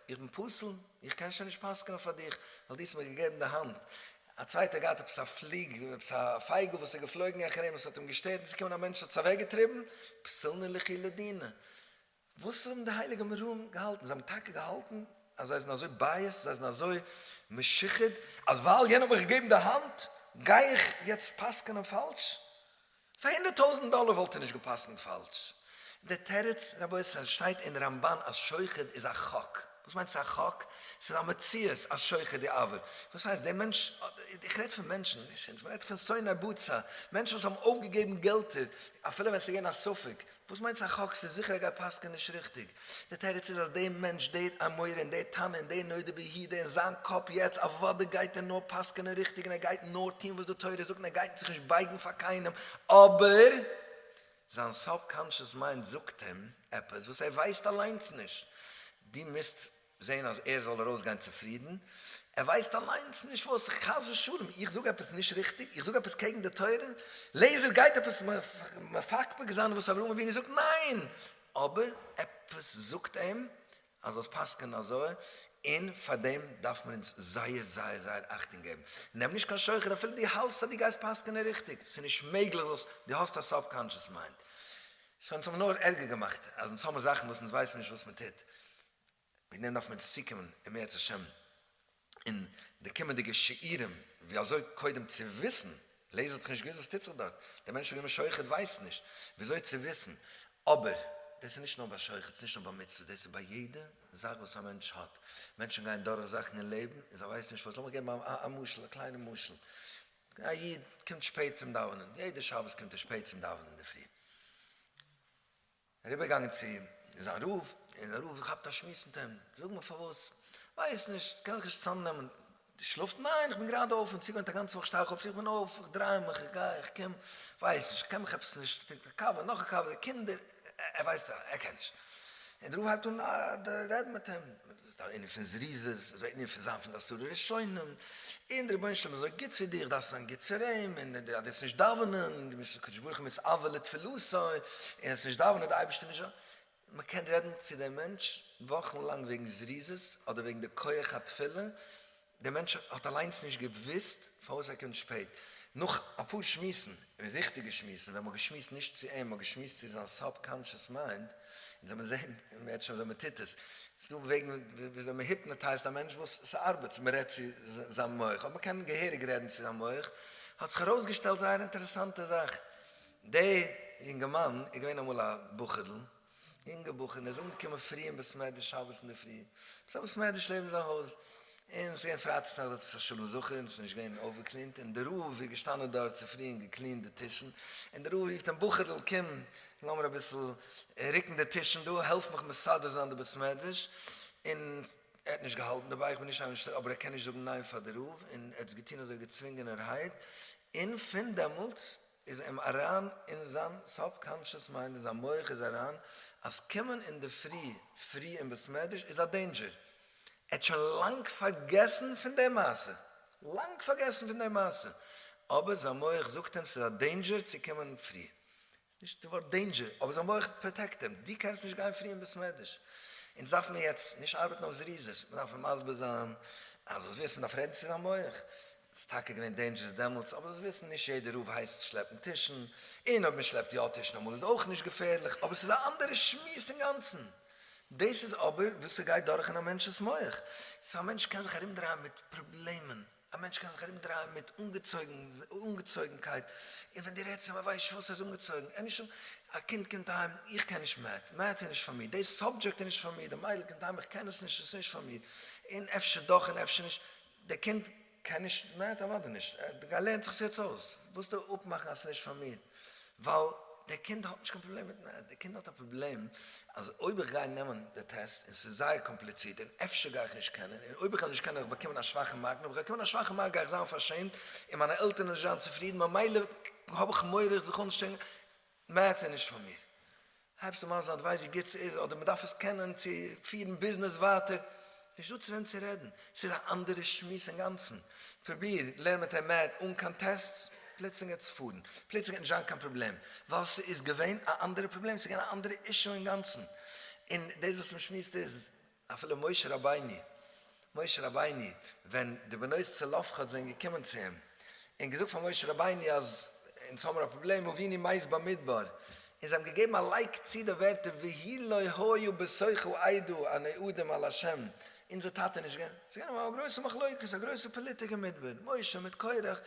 איך בין פסול, איך קען שוין נישט פסק'נען פאר דיך, ווייל דו האסט מיר געגעבן די האנט, א צווייטער האט געהאט עפעס א פליג, עפעס א פייגל וואס איז געפלויגן העכער אים, עס האט אים געשטערט, און עס איז געקומען א מענטש און האט עס אוועקגעטריבן, פסלני לכי לדינא, וואס האבן די הייליגע אמוראים געהאלטן? זיי האבן טאקע געהאלטן אז זיי זענען אזוי בייעסד, זיי זענען אזוי משוחד, אז ווייל יענער האט מיר געגעבן די האנט, גיי איך יעצט פסק'נען פאלש? פאר הונדערט טויזנט דאלער וואלט ער נישט גע'פסק'נט פאלש. דער תירוץ, רבותי, ס'שטייט אין רמבן אז שוחד איז א חק. וואס מיינט ס'איז א חק? ס'איז א מציאות אז שוחד די עבר. וואס הייסט? דער מענטש, איך רעד פון מענטשן, נישט אונז, מ'רעדט פון שונאי בצע, מענטשן וואס האבן אויפגעגעבן געלטער, אפילו ווען ס'איז געווען א ספק, וואס מיינטס א חק ס? זיכער ער גייט פסק'ען נישט ריכטיג. די תירוץ איז אז די מענטש, די אמורא און די תנא און די נודע ביהודה אין זיין קאפ יעצט אוודאי גייט ער נאר פסק'ענען ריכטיג און ער גייט נאר טוהן וואס די תורה זאגט און ער גייט זיך נישט בייגן פאר קיינעם אבער זיין סוב קאנטשעס מיינד זאגט אים עפעס וואס ער ווייסט אליינס נישט. דו מוזט זען אז ער זאל ארויסגיין צופרידן, ער ווייסט אליינס נישט וואס, חס ושלום איך זאג עפעס נישט ריכטיג, איך זאג עפעס קעגן די תורה, לעיזער גייט עפעס מפקפק זיין וואס אברהם אבינו זאגט, ניין! אבער עפעס זאגט אים אז זאלסט פסק'ענען אזוי, און פאר דעם דארף מען אונז זייער זייער זייער אכטונג געבן, נעם נישט קיין שוחד אפילו דו האלטסט אז דו גייסט פסק'ענען ריכטיג, ס'איז נישט מעגליך זאלסט, דו האסט א סאבקאנטשעס מיינד, ס'וועט אונז האבן נאר ערגער געמאכט, אז אונז האבן זאכן וואס אונז ווייסן נישט וואס מען טוט, ווי נעמען דארף מען צוקומען אם ירצה השם אין די קומענדיגע שיעורים ווי אזוי קודם צו וויסן, לעזער האט זיך נישט געוואוסט וואס טוט זיך דארט, דער מענטש וואס איז געווען שוחט ווייסט נישט ווי אזוי צו וויסן, אבער דאס איז נישט נאר ביי שוחט, ס'איז נישט נאר ביי מצוות, דאס איז ביי יעדע זאך וואס א מענטש האט, מענטשן גייען דורך זאכן אין לעבן און זיי ווייסן נישט וואס, לאמיך געבן א משל, א קליינע משל, א איד קומט שפעט צום דאווענען, יעדע שבת קומט ער שפעט צום דאווענען אינדערפרי, אריבערגעגאנגען צו אים איז זיין רב, און דער רב געכאפט א שמועס מיט אים, זאג מיר פארוואס, ווייס נישט, קען זיך נישט צוזאמנעמען, דו שלאפט? ניין, איך בין גראדע אויף, אין צוגעווענט א גאנצע וואך שטיי איך אויף, איך בין אויף, איך דריי מיך, איך גיי, איך קום, ווייס נישט, קען מיך עפעס נישט, טרינקט א קאווע, נאך א קאווע, די קינדער, ער ווייסט, ער קען נישט. און דער רב הייבט אן רעדן מיט אים. ס'דארף ענין פון זריזות, ס'דארף ענין פון זיין פון די עשרה ראשונים, און דער רבונו של עולם איז אזוי גוט צו דיר, דארפסט זיין גוט צו אים, און אז דו וועסט נישט דאווענען, דו מוזט הקדוש ברוך הוא מיט אהבה לתפילתו, און וועסט נישט דאווענען דער אייבערשטער נישט אויף, מען קען רעדן צו דעם מענטש וואכן לאנג וועגן זריזות, אדער וועגן די כח התפילה, דער מענטש האט אליינס נישט געוואוסט פארוואס ער קומט שפעט. נאך אפאר שמועסן, און ריכטיגע שמועסן, ווען מען האט געשמועסט נישט צו אים, מען האט געשמועסט צו זיין סאב קאנטשעס מיינד, און זעמיר זעהן יעצט שוין ווען מען טוט עס, ס'איז דא וועגן וויאזוי מען היפנאטייזט א מענטש וואס ס'ארבעט, מען רעדט צו זיין מח, אויב מען קען געהעריג רעדן צו זיין מח, האט זיך ארויסגעשטעלט זייער אינטערעסאנטע זאך, דער יונגערמאן איז געווען אמאל א בחור'ל, יונגע בחור און ער איז אנגעקומען פרי אין בעסמעדרעש שבת אינדערפרי, ס'איז א בעסמעדרעש לעבן זיין הויז, און ס'איז געווען פרייטאגס נאכט זאגט ער ס'איז א שלום זכר און ס'איז נישט געווען אויפגעקלינט, און דער רב איז געשטאנען דארט צופרי און געקלינט די טישן, און דער רב רופט אים בחור'ל קום לאמיר אביסל רוקן די טישן דא, העלף מיך מסדר זיין די בעסמעדרעש, און ער האט נישט געהאלטן דערביי, איך בין נישט איינער שטערט אבער ער קען נישט זאגן ניין פאר די רב, און ער האט עס געטון אזוי געצווינגענערהייט, און פון דעמאלטס איז אים אריין אין זיין סאב קאנטשעס מיינד אין זיין מח איז אריין אז קומען אינדערפרי פרי אין בית מדרש איז א דעינדזשער, ער האט שוין לאנג פארגעסן פון די מעשה, לאנג פארגעסן פון די מעשה, אבער זיין מח זאגט אים ס'איז א דעינדזשער צו קומען פרי, נישט די ווארט דעינדזשער, אבער זיין מח פראטעקט אים, דו קענסט נישט גיין פרי אין בית מדרש, אונז דארף מיר יעצט נישט ארבעטן אויף זריזות, מיר דארפן מסביר זיין אז וואס ווילסטו, מען דארף רעדן צו זיין מח, ס'איז טאקע געווען דעינדזשערעס דעמאלטס, אבער דאס וויסן נישט יעדער. רוב הייסט שלעפן טישן, און אויב מען שלעפט יא טישן אמאל איז אויך נישט געפערליך, אבער ס'איז א אנדערע שמועס אינגאנצן. דאס איז אבער וואס ס'גייט דורך אין א מענטש'ס מח. סאו א מענטש קען זיך ארומדרייען מיט פראבלעמען, א מענטש קען זיך ארומדרייען מיט אנגעצויגנקייט, און ווען דו רעדסט צו אים ער ווייסט נישט פארוואס ער איז אנגעצויגן, ער נישט אנ. א קינד קומט אהיים, איך קען נישט מעט, מעט איז נישט פאר מיר, דעי סאבדזשעקט איז נישט פאר מיר, די מיידל קומט אהיים, איך קען עס נישט, עס איז נישט פאר מיר, און אפשר דאך און אפשר נישט. דער קינד קען נישט מען הערט אוודאי נישט ער לערנט זיך עס יעצט אויס ווילסטו אפמאכן אז עס איז נישט פאר מיר ווייל דער קינד האט נישט קיין פראבלעם מיט מעט דער קינד האט א פראבלעם אז אויב איך גיי נעמען די טעסט און עס איז זייער קאמפליצירט און אפשר גיי איך נישט קענען און אויב איך וועל נישט קענען וועל איך באקומען א שוואכע מארק און אויב איך וועל באקומען א שוואכע מארק גיי איך זיין פארשעמט און מיינע עלטערן וועלן נישט זיין צופרידן ממילא האב איך מורא איך זיך אנשטרענגען מעט איז נישט פאר מיר. הייבסטו מיין זייט ווייס ווי גוט ס'איז אדער מ'דארף עס קענען צו פירן ביזנעס ווייטער? נישט דא צו וועם צו רעדן, ס'איז א אנדערע שמועס אינגאנצן. פרוביר לערן מיט אים מעט אן קיין טעסטס, פלוצלינג גייט עס פארן. פלוצלינג גייט נישט זיין קיין פראבלעם, ווייל ס'איז געווען א אנדערע פראבלעם, ס'איז געווען א אנדערע אישו אינגאנצן. און דאס וואס מ'שמועסט איז אפילו משה רבינו, משה רבינו, ווען די בנות צלפחד זענען געקומען צו אים, און געזאגט פאר משה רבינו אז אונז האבן מיר א פראבלעם, אבינו מייז במדבר, און זיי האבן געגעבן א לייק צו די ווערטער והי' לא היה בשכל עדה אן עדים על ה', אונזער טאטע נישט געווען, ס'איז געווען א גרויסע מחלוקת, א גרויסע פאליטיק אין מדבר, משה מיט קרח,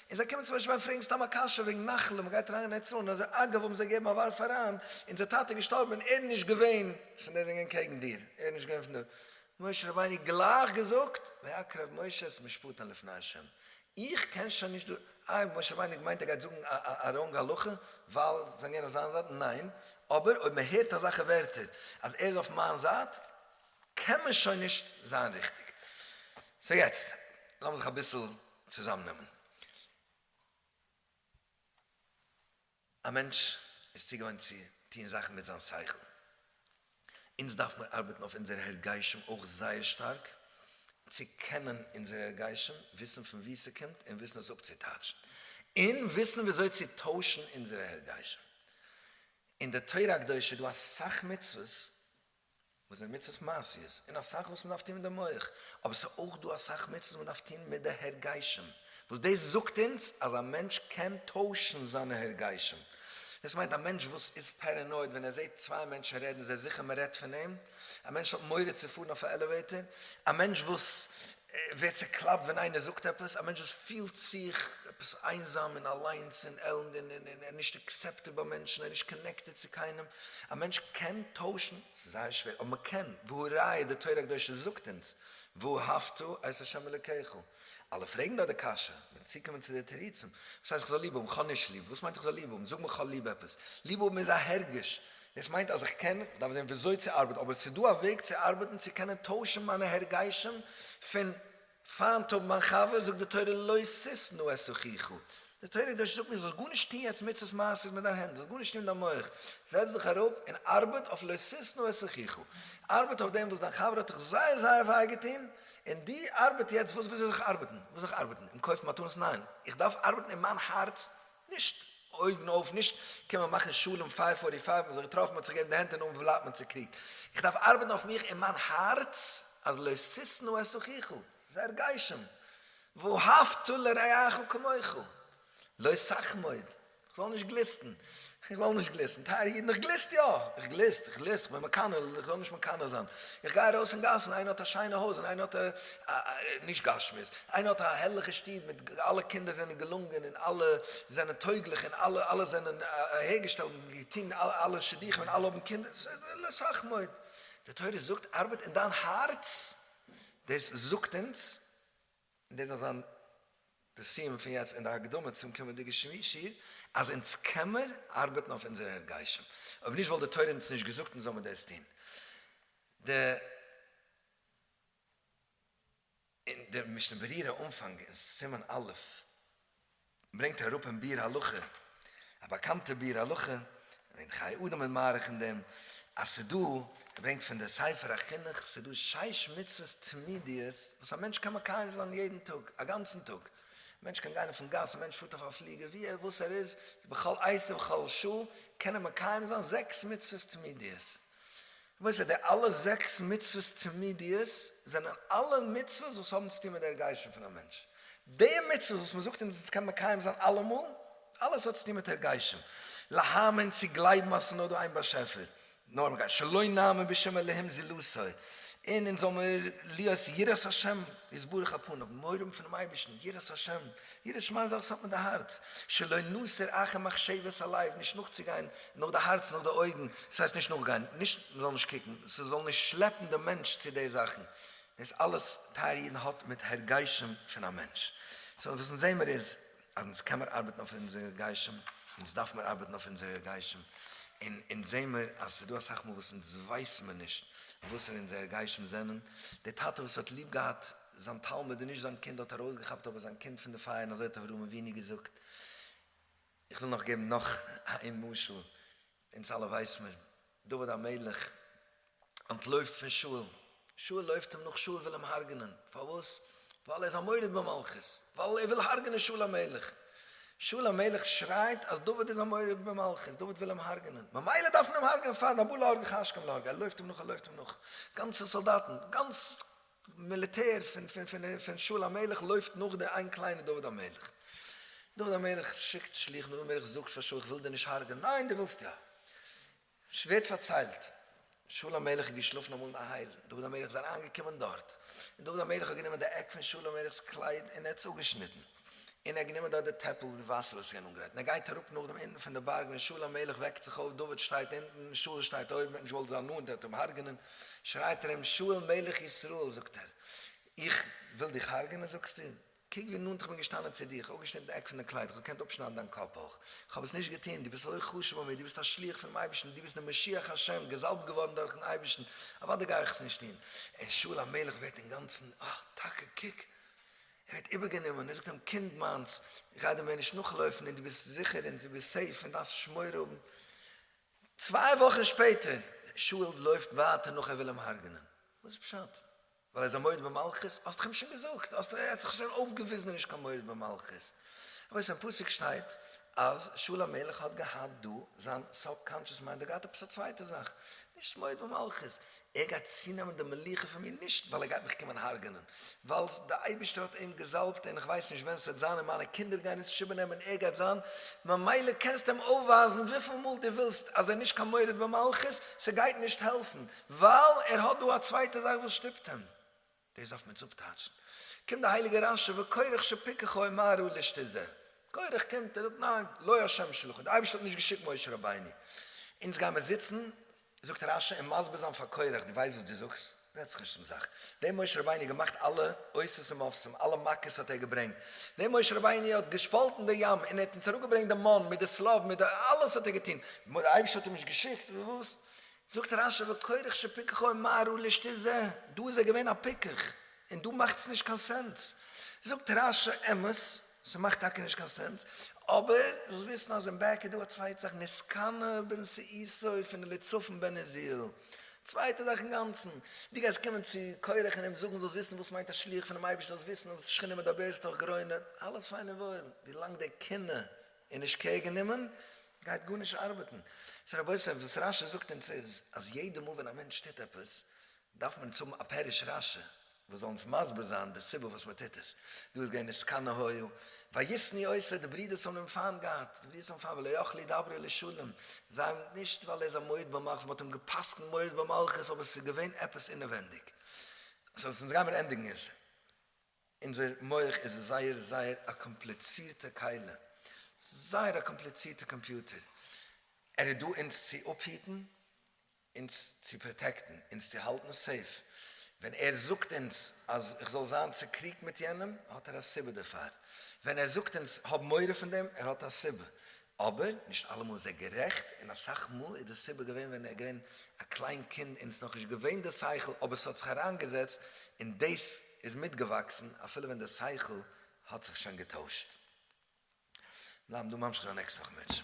און זיי קומען צו משה רבינו פרעגן סתם א קשיא וועגן נחלה, מ'גייט אריין אין אוצרות, און אזוי אגב האבן זיי געגעבן א ווארף אריין, אונזער טאטע איז געשטארבן און ער איז נישט געווען. פון די זינגען קעגן דיר, ער איז נישט געווען פון די. משה רבינו גלייך געזאגט, ויקרב משה את משפטו לפני השם, איך קען שוין נישט דא, איי משה רבינו האט געמיינט ער גייט זאגן א ראנג הלכה ווייל זיי זענען אויף זיין זייט, ניין, אבער אויב מען הערט אזאלכע ווערטער אז ער איז אויף מיין זייט, קען מען שוין נישט זיין ריכטיג. סאו יעצט לאמיר זיך אביסל צוזאמנעמען. א מענטש איז צוגעוואוינט צו טון זאכן מיט זיין שכל, אונז דארף מיר ארבעטן אויף אונזערע הרגשים אויך זייער שטארק, צו קענען אונזערע הרגשים, וויסן פון וואו ס'קומט און וויסן עס אפצוטייטשן, און וויסן וויאזוי צו טוישן אונזערע הרגשים. אין די תורה הקדושה איז דא אסאך מצוות וואס זענען מצוות מעשיות, און אסאך וואס מ'דארף טון מיט די מח, אבער ס'איז אויך דא אסאך מצוות וואס מ'דארף טון מיט די הרגשים, וואס דאס זאגט אונז אז א מענטש קען טוישן זיינע הרגשים, דאס מיינט א מענטש וואס איז פערענויד ווען ער זעט צוויי מענטשן רעדן איז ער זיכער מ'רעדט פון אים, א מענטש האט מורא צו פארן אויף א עלעוועיטער, א מענטש וואס ווערט צעקלאפט ווען איינער זאגט עפעס, א מענטש וואס פילט זיך עפעס איינזאם און אליינס און עלנד און ער איז נישט אקסעפטעד ביי מענטשן, ער איז נישט קאנעקטעד צו קיינעם, א מענטש קען טוישן, ס'איז זייער שווער אבער מען קען, והא ראיה די תורה הקדושה זאגט אונז ואהבת את ה' אלוקיך, אלע פרעגן דארט די קשיא, מ'וועט צוקומען צו די תירוצים, וואס הייסט איך זאל ליב האבן, כ'האב נישט ליב, וואס מיינט איך זאל ליב האבן, זאג מיר כ'זאל ליב האבן, זאג מיר כ'האב ליב עפעס, ליב האבן איז א הרגש, דאס מיינט אז איך קען, דארף זען וויאזוי צו ארבעטן, אבער עס איז דא א וועג צו ארבעטן צו קענען טוישן מיינע הרגשים פון פיינט האבן מיין חבר, זאגט די תורה לא ששנא את אחיך, די תורה הקדושה זאגט מיר זאלסט גארנישט טון יעצט מצות מעשיות מיט דיין הענט, זאלסט גארנישט טון מיט דיין מח, זעץ דיך אראפ און ארבעט אויף לא ששנא את אחיך, ארבעט אויף דעם וואס דיין חבר האט דיך זייער זייער וויי געטון, און דו ארבעט יעצט וואס וויאזוי זאל איך ארבעטן, וואס זאל איך ארבעטן, אים קויפן מתנות ניין, איך דארף ארבעטן אין מיין הארץ, נישט אויבן אויף נישט קען מען מאכן שלום פייוו פארטי פייוו מען האט זיך געטראפן מען האט זיך געגעבן די הענט און נאך בלייבט מען צוקריגט איך דארף ארבעטן אויף מיך און מיין הארץ אז לא ששנא את אחיך זייער גשם ואהבת לרעך כמוך לא שחמוד איך זאל נישט גליסטן איך זאל נישט גליסטן טייערע אידן איך גליסט יא איך גליסט איך גליסט איך בין מקנא איך זאל נישט מקנא זיין איך גיי ארויס אין גאסן איינער האט א שיינע הויז און איינער האט א נישט גשמיות, איינער האט א הערליכע שטוב מיט אלע קינדער זענען געלונגען און אלע זענען טויגליך און אלע זענען אהערגעשטעלט און געטון אלע שידוכים און אלע האבן קינדער, סאך מאוד. די תורה זאגט ארבעט אין דיין הארץ, דאס זאגט אונז, און דאס זאל זיין די סיום פון יעצט און די הקדמה צום קומענדיגע שיעור, אז אונז קעמער ארבעטן אויף אונזער הרגשים, אויב נישט וואלט די תורה אונז נישט געזאגט אונז זאל מיר דאס טון. די. און דער משנה ברורה אנפאנג אין סימן א' ברענגט אראפ אין ביאור הלכה א באקאנטע ביאור הלכה, און חיי אדם איז מאריך אין דעם, אז ס'איז דא, ער ברענגט פון די ספר החינוך, ס'איז דא שש מצוות תמידיות וואס א מענטש קען מקיים זיין יעדן טאג, א גאנצן טאג, א מענטש קען גיין אויפן גאס, א מענטש פארט אויף א פליגער, ווי ער וואס ער איז, בכל עת ובכל שעה, קען ער מקיים זיין זעקס מצוות תמידיות. כ'מיין ס'איז די אלע זעקס מצוות תמידיות זענען אלע מצוות וואס האבן צוטון מיט די הרגשים פון א מענטש. די מצוות וואס מ'זאגט אונז אונז קען מקיים זיין אלעמאל, אלעס האט צוטון מיט הרגשים. להאמין, צו גלייבן אז ס'איז נאר דא איין באשעפער. נאר מ'גייט, שלא נאמין בשום אלהים זולתו, און אונז זאל מיר להיות יראת השם איז ברוך הפנים, האבן מורא האבן פונעם אייבערשטן, יראת השם, ירא שמים זאכן וואס האט מיט די הארץ, שלא נוסר אחר מחשבת הלב, נישט נאכצוגיין נאך די הארץ נאך די אויגן, דאס הייסט נישט נאכגיין, נישט מען זאל נישט קוקן, ס'זאל נישט שלעפן דעם מענטש צו די זאכן, דאס אלעס טייערע אידן האט מיט הרגשים פון א מענטש, סאו וואס אונז זעמער איז. אז אונז קען מיר ארבעטן אויף אונזער גשם, אונז דארף מיר ארבעטן אויף אונזער גשם, און אונז זעהן מיר אז ס'איז דא אסאך מאל וואס אונז ווייסן מיר נישט וואסערע אונזערע גשם זענען, דער טאטע וואס האט ליב געהאט זיין תלמיד און נישט זיין קינד האט ארויסגעכאפט אבער זיין קינד פון די פייער און אזוי האט אברהם אבינו געזאגט, איך וויל נאך געבן נאך איין משל, אונז אלע ווייס מיר, דוד המלך אנטלויפט פון שאול, שאול לויפט אים נאך, שאול וויל אים הרג'נען, פארוואס? ווייל ער איז א מורד במלכות, ווייל ער וויל הרג'נען שאול המלך, שאול המלך שרייט אז דוד איז א מורד במלכות, דוד וויל אים הרג'נען, ממילא דארף מען אים הרג'נען פארן הבא להרגך השכם להרגו, ער לויפט אים נאך, ער לויפט אים נאך, גאנצע סאלדאטן, גאנץ מיליטער פון שאול המלך לויפט נאך די איין קליינע דוד המלך, דוד המלך שיקט שליחים, דוד המלך זאגט פאר שאול איך וויל דיר נישט הרג'ענען, ניין דו ווילסט יא, ס'ווערט פארציילט שאול המלך איז געשלאפן אמאל אין א הייל, דוד המלך איז אריינגעקומען דארט, און דוד המלך האט גענומען די עק פון שאול המלך'ס קלייד און ער האט עס אפגעשניטן. און ער האט גענומען דארט די טעפל מיט וואסער וואס איז געווען אנגערייט, און ער גייט אראפ נאך דעם אונטן פון די בארג, ווען שאול המלך וועקט זיך אויף, דוד שטייט אונטן, שאול שטייט אויבן, ווען שאול זאל נאנט, ער וועט אים הרג'נען, שרייט ער אים, שאול מלך ישראל, זאגט ער, איך וויל דיך הרג'נען זאגסטו? קוק ווי נאנט איך בין געשטאנען צו דיר, איך האב אפגעשניטן די עק פון דיין קלייד, איך האב געקענט אפשניידן דיין קאפ אויך, איך האב עס נישט געטון, דו ביסט אזוי חשוב ביי מיר, דו ביסט א שליח פונעם אייבערשטן, דו ביסט דער משיח השם, געזאלבט געווארן דורכ'ן אייבערשטן, אוודאי גיי איך עס נישט טון, און שאול המלך ווערט אינגאנצן, אה, טאקע, קוק, ער האט איבערגענומען און ער זאגט אים, קינד מיינס, גיי דעם מער נישט נאכלויפן און דו ביסט זיכער און דו ביסט סעיף און דארפסט נישט מורא האבן. צוויי וואכן שפעטער, שאול לויפט ווייטער נאך ער וויל אים הרג'נען. וואס איז פשט? ווייל ער איז א מורד במלכות? האסט דאך אים שוין געזאגט, האסט דאך שוין אויפגעוויזן ער איז נישט קיין מורד במלכות. אבער וואס אין פסוק שטייט, אז שאול המלך האט געהאט דא זיין סוב-קאנטשעס מיינד, ער געהאט עפעס א צווייטע זאך, נישט מויד במלכות, ער גייט צונעמען די מלוכה פון מיר נישט ווייל ער גייט מיך קומען הרג'נען, ווייל די אייבישטער האט אים געזאלבט און איך ווייס נישט ווען ס'וועט זיין און מיינע קינדער גייען עס שיבען אים און ער גייט זיין, ממילא קענסט אים אויפווייזן וויפיל מאל דו ווילסט אז ער נישט קיין מורד במלכות, ס'גייט נישט העלפן, ווייל ער האט דא א צווייטע זאך וואס שטופט אים. דאס דארף מען עס אפטייטשן. קומט דער הייליגער רשי וכורך שפיקחו אין מהר א לישט איז ער. כורך קומט, ער זאגט ניין, לא השם שלחני, די אייבערשטער האט נישט געשיקט משה רבינו. אונז גיימער זיצן, זאגט רשי, און מסביר זיין פאר כורך, דו ווייסט וואס דו זאגסט? רעדט זיך נישט צום זאך. דער משה רבינו האט געמאכט אלע אותות ומופתים, אלע מכות האט ער געברענגט. דער משה רבינו האט געשפאלטן די ים, און ער האט אונז אראפגעברענגט די מן מיט די סלב מיט די, אלעס האט ער געטון. די אייבערשטער האט אים נישט געשיקט? וואס? זאגט רשי וכורך שפיקחו אין מהרו לשתי זה, דא איז ער געווען א פיקח, און דא מאכטס נישט קיין סענס. זאגט רשי אמת, ס'מאכט טאקע נישט קיין סענס, אבער זאלסט וויסן אז אין בעק איז דא א צווייטע זאך נסקנה בנשיאותו פון אליצפן בן עזיאל, צווייטע זאך אינגאנצן, דו גייסט קומען צו כורך און אים זאגן זאלסט וויסן וואס מיינט א שליח פונעם אייבערשטן זאלסט וויסן אז שכינה מדברת תוך גרונם, אלעס פיין און וואויל, ווילאנג דער קנאה און נישט קעיר גענומען, גייט גארנישט ארבעטן. סאו רבותי, וואס רשי זאגט אונז איז, אז יעדע מאל ווען א מענטש טוט עפעס, דארף מען אונז האבן א פירוש רשי, וואס זאל אונז מסביר זיין די סיבה פארוואס מען טוט עס. דא איז געווען עסקני היו, וישנא עשו, די ברידערס האבן אים פיינט געהאט, די ברידערס האבן פיינט, ולא יכלו ידברו לשלום, זיי האבן נישט ווייל ער איז א מורד במלכות, מען האט אים גע'פסק'נט מורד במלכות, אבער עס איז געווען עפעס אינעווענדיג. סאו, אונז גיימיר ענדיגן עס. אונזער מח איז זייער זייער א קאמפליצירטע כלה, זייער א קאמפליצירטע קאמפיוטער, ער איז דא אונז צו אפהיטן, אונז צו פראטעקטן, אונז צו האלטן סעיף, ווען ער זאגט אונז אז כ'זאל זיין צוקריגט מיט יענעם האט ער א סיבה דערפאר, ווען ער זאגט אונז האב מורא פון דעם ער האט א סיבה, אבער נישט אלעמאל איז ער גערעכט, און אסאך מאל איז די סיבה געווען ווען ער איז געווען א קליין קינד און עס איז נאך נישט געווען די שכל אבער עס האט זיך אריינגעזעצט און דאס איז מיטגעוואקסן אפילו ווען די שכל האט זיך שוין געטוישט. בלייבן דא ממשיך די נעקסטע וואך מענטשן.